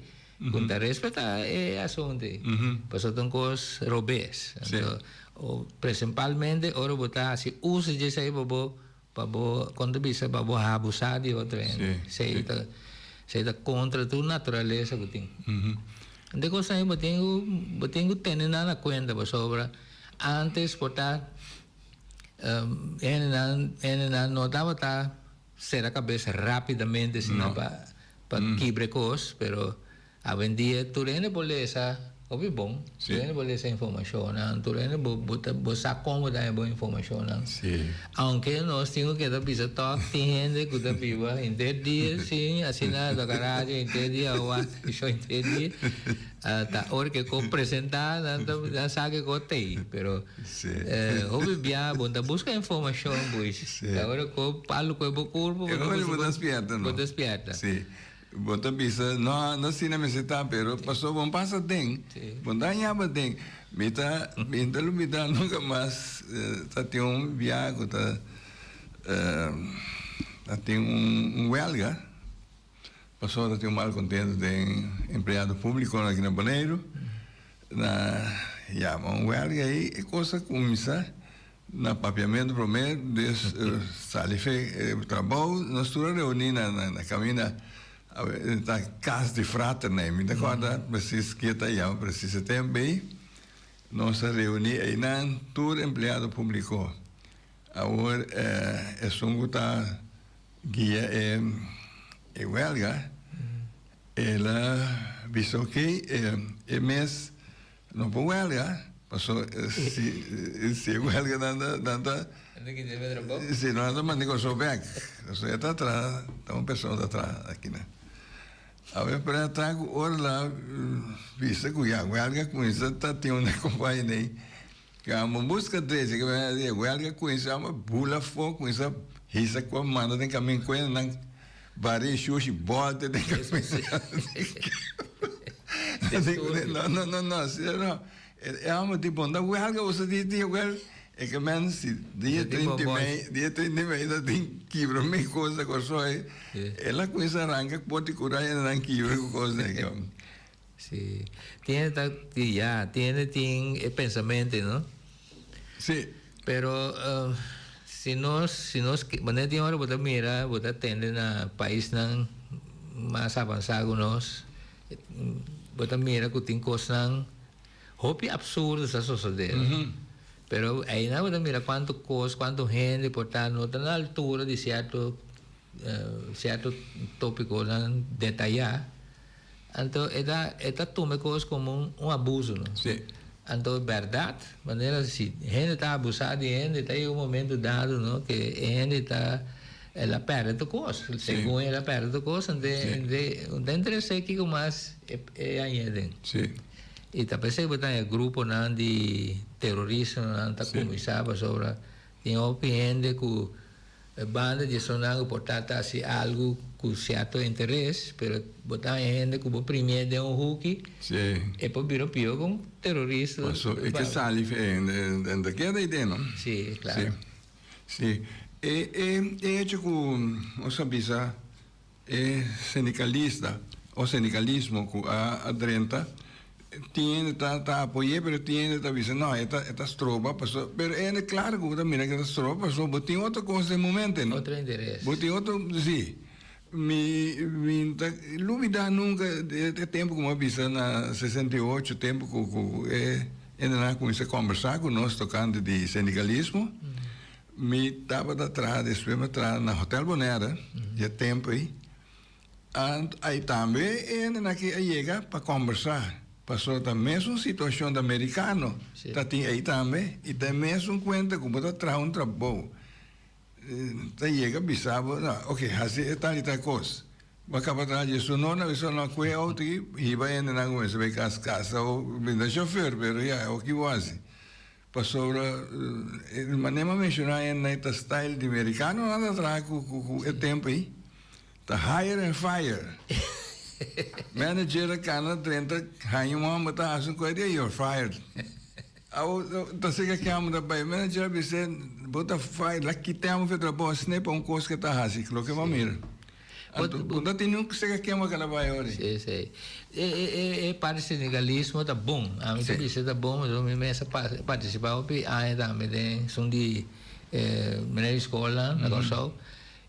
ku ta respetá e asuntu ei. Pasobra ta un kos robes. Anto prensipalmente ora bo ta hasi uso di esei pa bo Pa bo kon ta bisa pa bo abusá di otro hende. Esei ta esei ta kontra tur naturalesa ku tin. Kende kos nan bo tin ku bo tin ku tene nan na kuenta pasobra antes por ta hende nan hende nan no tabata sera kabes rápidamente sino pa pa kibre kos pero. Awendia tur hende por lesa, hopi bon, tur hende por lesa informashonnan, tur hende bo bo ta bo sa kon bo ta heba bo informashonnan. Aunke nos tin ku ke ta bisa tòg, tin hende ku ta biba henter dia sin asina a toka radio henter dia, a wak shò henter dia, a ta ora ke ko presentá nan ta nan sa ke ko tei. Pero hopi bia bo ta buska informashon pues, ta ora ko palo kue bo kurpu bo ta bo ta spièrta. Bo ta bisa, No, no asina mester ta, pero pasobra bo pasa aden, bo dañaba aden. Mi ta, mi ta lubida nunka mas, ta tin un biaha ku ta, a tin un welga, pasobra ta tin un malkontentu den empleado públikonan aki na Boneiru, na yama un welga ei, e kos a kuminsa. Na papiamento prome de sali fe e trabao nos tur a reuni na na caminda ta cas di fraternan mi ta corda precis kier ta yama precis e tempo ey nos a reuni eynan tur empleado publico awor esun cu ta guia e huelga ela bisa ok e mes No por huelga, paso si e huelga nan ta, nan ta, si no nan ta manda e cosa bek. Paso e ta traha, ta un persona ta traha akina. Awe p'e ta ku ora la bisa ku ya huelga kuminsa ta tin un akompaña ei, ku amo buska drecha ku men e huelga kuminsa amo bula afó, kuminsa hisa ku a manda den kamin kuenda nan. Bar'é e shoshi bòlta den kabesa di Kiko. No, no, no, no, Siñor, no. E hòmber tin bonda wèlga oso dia tin wèl. E ke men si dia treinta i mei, dia treinta i mei ta tin kibra mi kos na Kòrsou ei. El a kuminsá ranka pòrta i kura i a nan kibra ku kos na e ke. Si. Tiene ta ya tiene tin e pensamente no. Si. Pero uh, si nos si nos maneer tin ora bota mira bota tende na paisnan mas avansa ku nos bota mira ku tin kosnan hopi absurdo sa sosode. Mm -hmm. Pero aina bota mira kuanto kos kuanto hende por ta no ta na altura di sierto uh, sierto topikonan detayá. Anto e ta e ta tuma e kos komo un un abuso no. Sí. Anto bèrdat manera si hende ta abusá di hende ta yega un momento dado no ke e hende ta el a pèrdè tur kos, segun el a pèrdè tur kos ende ende no ta interes'é kiko mas e e hañ'é aden. Sí. I ta p'esei ku bo ta e gruponan di terorismonan ta kuminsá pasobra tin hopi hende ku. E banda di esonan ku por ta ta hasi algu ku sierto interes, pero bo ta haña hende ku bo primié den un huki, e por bira pio kon terorist. Paso e ke sali hende den ta keda ei den, no? Sí, klaro. Sí, sí. E hecho ku nos a bisa. E sindikalista o sindikalismo ku a drenta tin ta ta apoy'é pero tin hende ta bisa nò e ta e ta stroba paso pero e hende klar ku bo ta mira ku e ta stroba paso bo tin otro kos den momente no Otro interes. bo tin otro si mi mi ta lubidá nunka e tempu ku mi a bisa na sesenta i ocho tempu ku ku e hendenan a kuminsá kòmbersá ku nos tokante di sindikalismo Mi tabata traha despues mi a traha na Hotel Bonaire dje tempo ei. Ant ai tambe e hendenan aki a yega pa kòmbersá pasobra ta mesun situashon ta merikano ta tin ei tambe i ta e mesun kuenta ku bo ta traha un trabou ta yega bisa bo no ok hasi e tal i tal kos bo a kaba traha dje su nona bisa lo a kohe e outo aki hiba hendenan ku mester bai kas kas o binda shofèr pero ya oki bo hasi Pasobra e manera m'a menciona hende'ai ta style di mericano nan ta traha cu e tempo'i ta hire and fire. Manager a cana drenta haña un homber ta haci un cosa di ey, you're fired. Awo ta seca aki homber ta bay, manager a bisa, bo ta fired, la kit'e homber fu e trabao a sne pa un cos ke ta haci, loke m'a mira. Bo ta tene un kuseka kema kalabay ora. Sí, sí. E e e parti sindikalismo ta bon. Ami ta bisa ta bon pasobra mi mes a partisipa hopi aña tambe den esun di e meneer di skolnan na Kòrsou.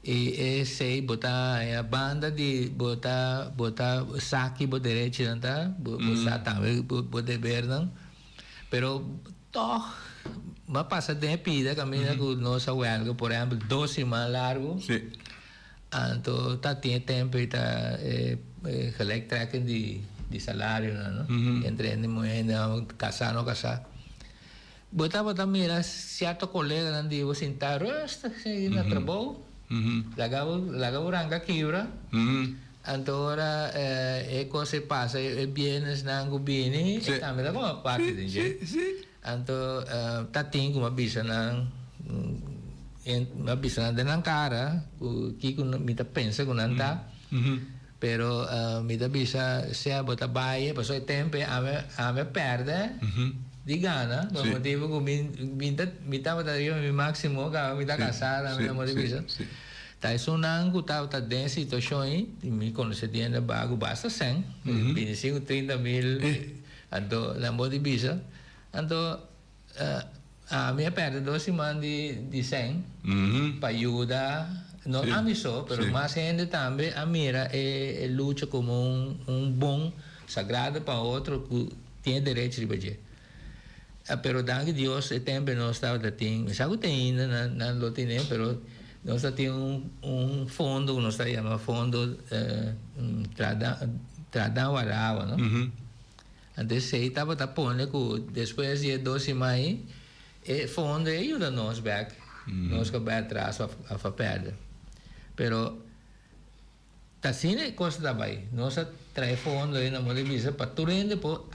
I esei bo ta haña banda di bo ta bo ta sa ki bo derechonan ta, bo sa tambe bo debernan. Pero tòg bo a pasa den e pida kaminda ku nos a wèlga por ehèmpel dos siman largu. Anto ta tin e tempo ei ta e gelijk trekking di salarionan no, entre hende muhé, hende hòmber, kasá, no kasá. Bo tabata mira sierto koleganan di bo sintá rustig asin na trabou, laga bo laga bo ranga kibra, anto ora e kos ei pasa e bienesnan ku bini e tambe ta kòm aparte den dje. Anto ta tin ku mi a bisa nan, mi a bisa nan den nan kara ku kiko mi ta pensa ku nan ta, pero mi ta bisa sea bo ta baie pasobra e tempo ei ami ami a pèrdè di gana por e motibu ku mi mi ta mi tabata riba mi máksimo kaminda mi ta kasá ami no mester bisa. Ta esun nan ku tabata den e situashon ei mi konosé diende baku basta sèn, bini si ku trinta mil. Anto nan bo di bisa, Anto ami a perde dos siman di di sèn pa yuda no ami so, pero mas hende tambe a mira e lucha komo un bon sagrado pa otro ku tin e derech riba dje. Pero danki Dios e tempel nos tabata tin, mi sa ku tin ainda nan lo tene, pero. Nos a tin un fondo ku nos ta yama fondo trada waraba, no? Anto esei tabata pone ku despues di e dos sima ei e fondo ei a yuda nos bèk, nos ku a bai atras of a fa pèrdè. Pero ta asina e kos ta bai, nos a trae fondo ei na modo di bisa pa tur hende por,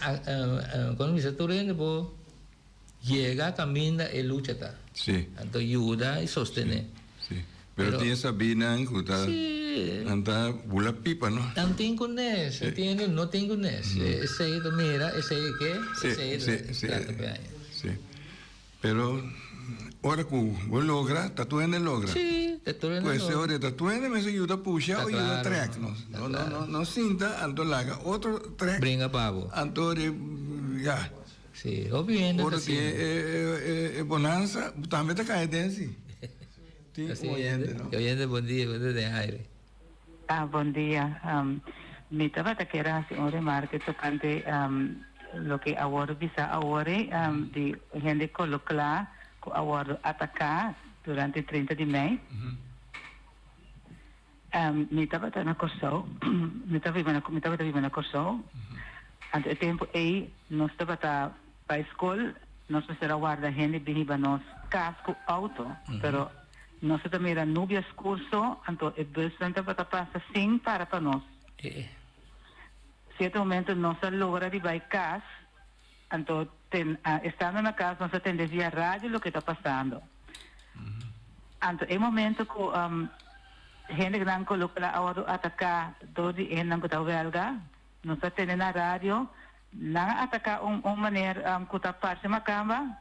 kon ta bisa, tur hende por. Yega a caminda e lucha ta. Sí. Anto yuda y sostené. Sí. Pero tin esabinan cu ta. Sí. Nan ta bula pipa, no? Nan tin cu nes, e tin e no tin cu nes. Esey ta mira, esey ke, esey ta trata cu aña. Sí. Pero ora cu bo logra, ta tuende logra. Sí, ta tuende logra. Pues ora e ta tuende mester yuda pusha o yuda trek, no? Ta claro, ta claro. No sinta anto laga otro trek. Bringa pa bo. Anto ora, ya. Si, hopi hende ta asina. Ora tin e bonansa, bo tambe ta kaya den si. Tin un oyente, no? Oyente bondia, bo ta den aire. Ah, bondia. Mi tabata kere hasi un remarke tokante loke a wòrdu bisa awor-e di hende kolo kla ku a wòrdu ataká durante trinta di mei. Mi tabata na Kòrsou. Mi tabata biba na Kòrsou. Anto e tempu ei nos tabata bai skol, nos mester a warda hende bini ba nos kas ku outo. Pero nos a ta mira Nubia School so, anto e busnan tabata pasa sin para pa nos. Sierto momento nos a logra di bai kas. Anto ten, estando na cas nos a tende via radio loke ta pasando. Anto e momento cu hendenan cu lo cual a wordó atacá door di ehennan cu ta huelga, nos a tende na radio, nan a atacá un maner cu ta parce macamba.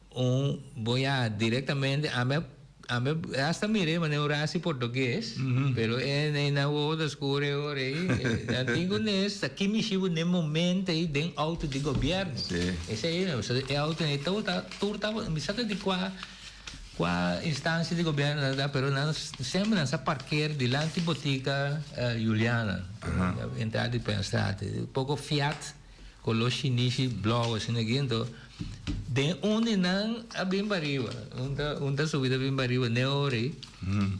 Un boya directamente ame ame hasta mira e manera ora hasi portugues pero e nei na woord a score ei ora ei nan tin ku nes ta ki mishi bo n'e momento ei den auto di gobierno esei no so e auto nei tabata ta tur tabata mi sa ta di kua kua instancia di gobierno nan a da pero nan semper nan sa parker dilanti botica Juliana entrada di Peenstraat ei poko fiat. Color shinishi, blauw asina aki ento den un di nan a bin pa riba un ta un ta subi ta bin pa riba ne ori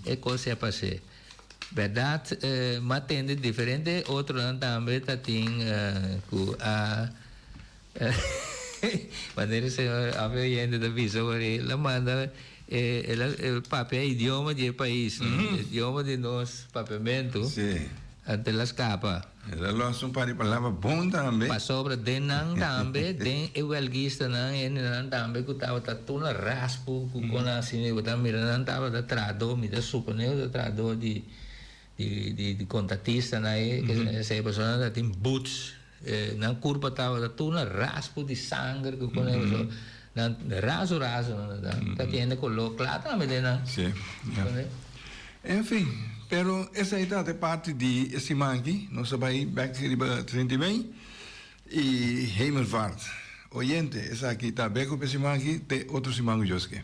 e cos ya pase verdad m'a tende diferente otronan tambe ta tin cu a manera e señor a fe oyente ta bisa por ahi la manda e el a el papia idioma di e pais idioma di nos papiamento anto el a scapa. E ta los un par di palabra bon tambe. Pasobra den nan tambe, den e huelgistanan, hendenan tambe cu tabata tur na raspu cu con a haci mi, bo ta mira nan tabata trahador, mi ta supone bo ta trahador di, di, di, di contratistanan ey, esey personanan tatin boots, nan curpa tabata tur na raspu di sanger cu con a haci mi. Nan raso raso nan ta, ta tiende color cla tambe den nan. Sí, ya. Enfin, pero esai ta te parti di e siman aki. Nos a bai bek riba Trindimey y Hemelvaart. Oyente, esaki ta bekup e siman aki te otro siman ujos ke.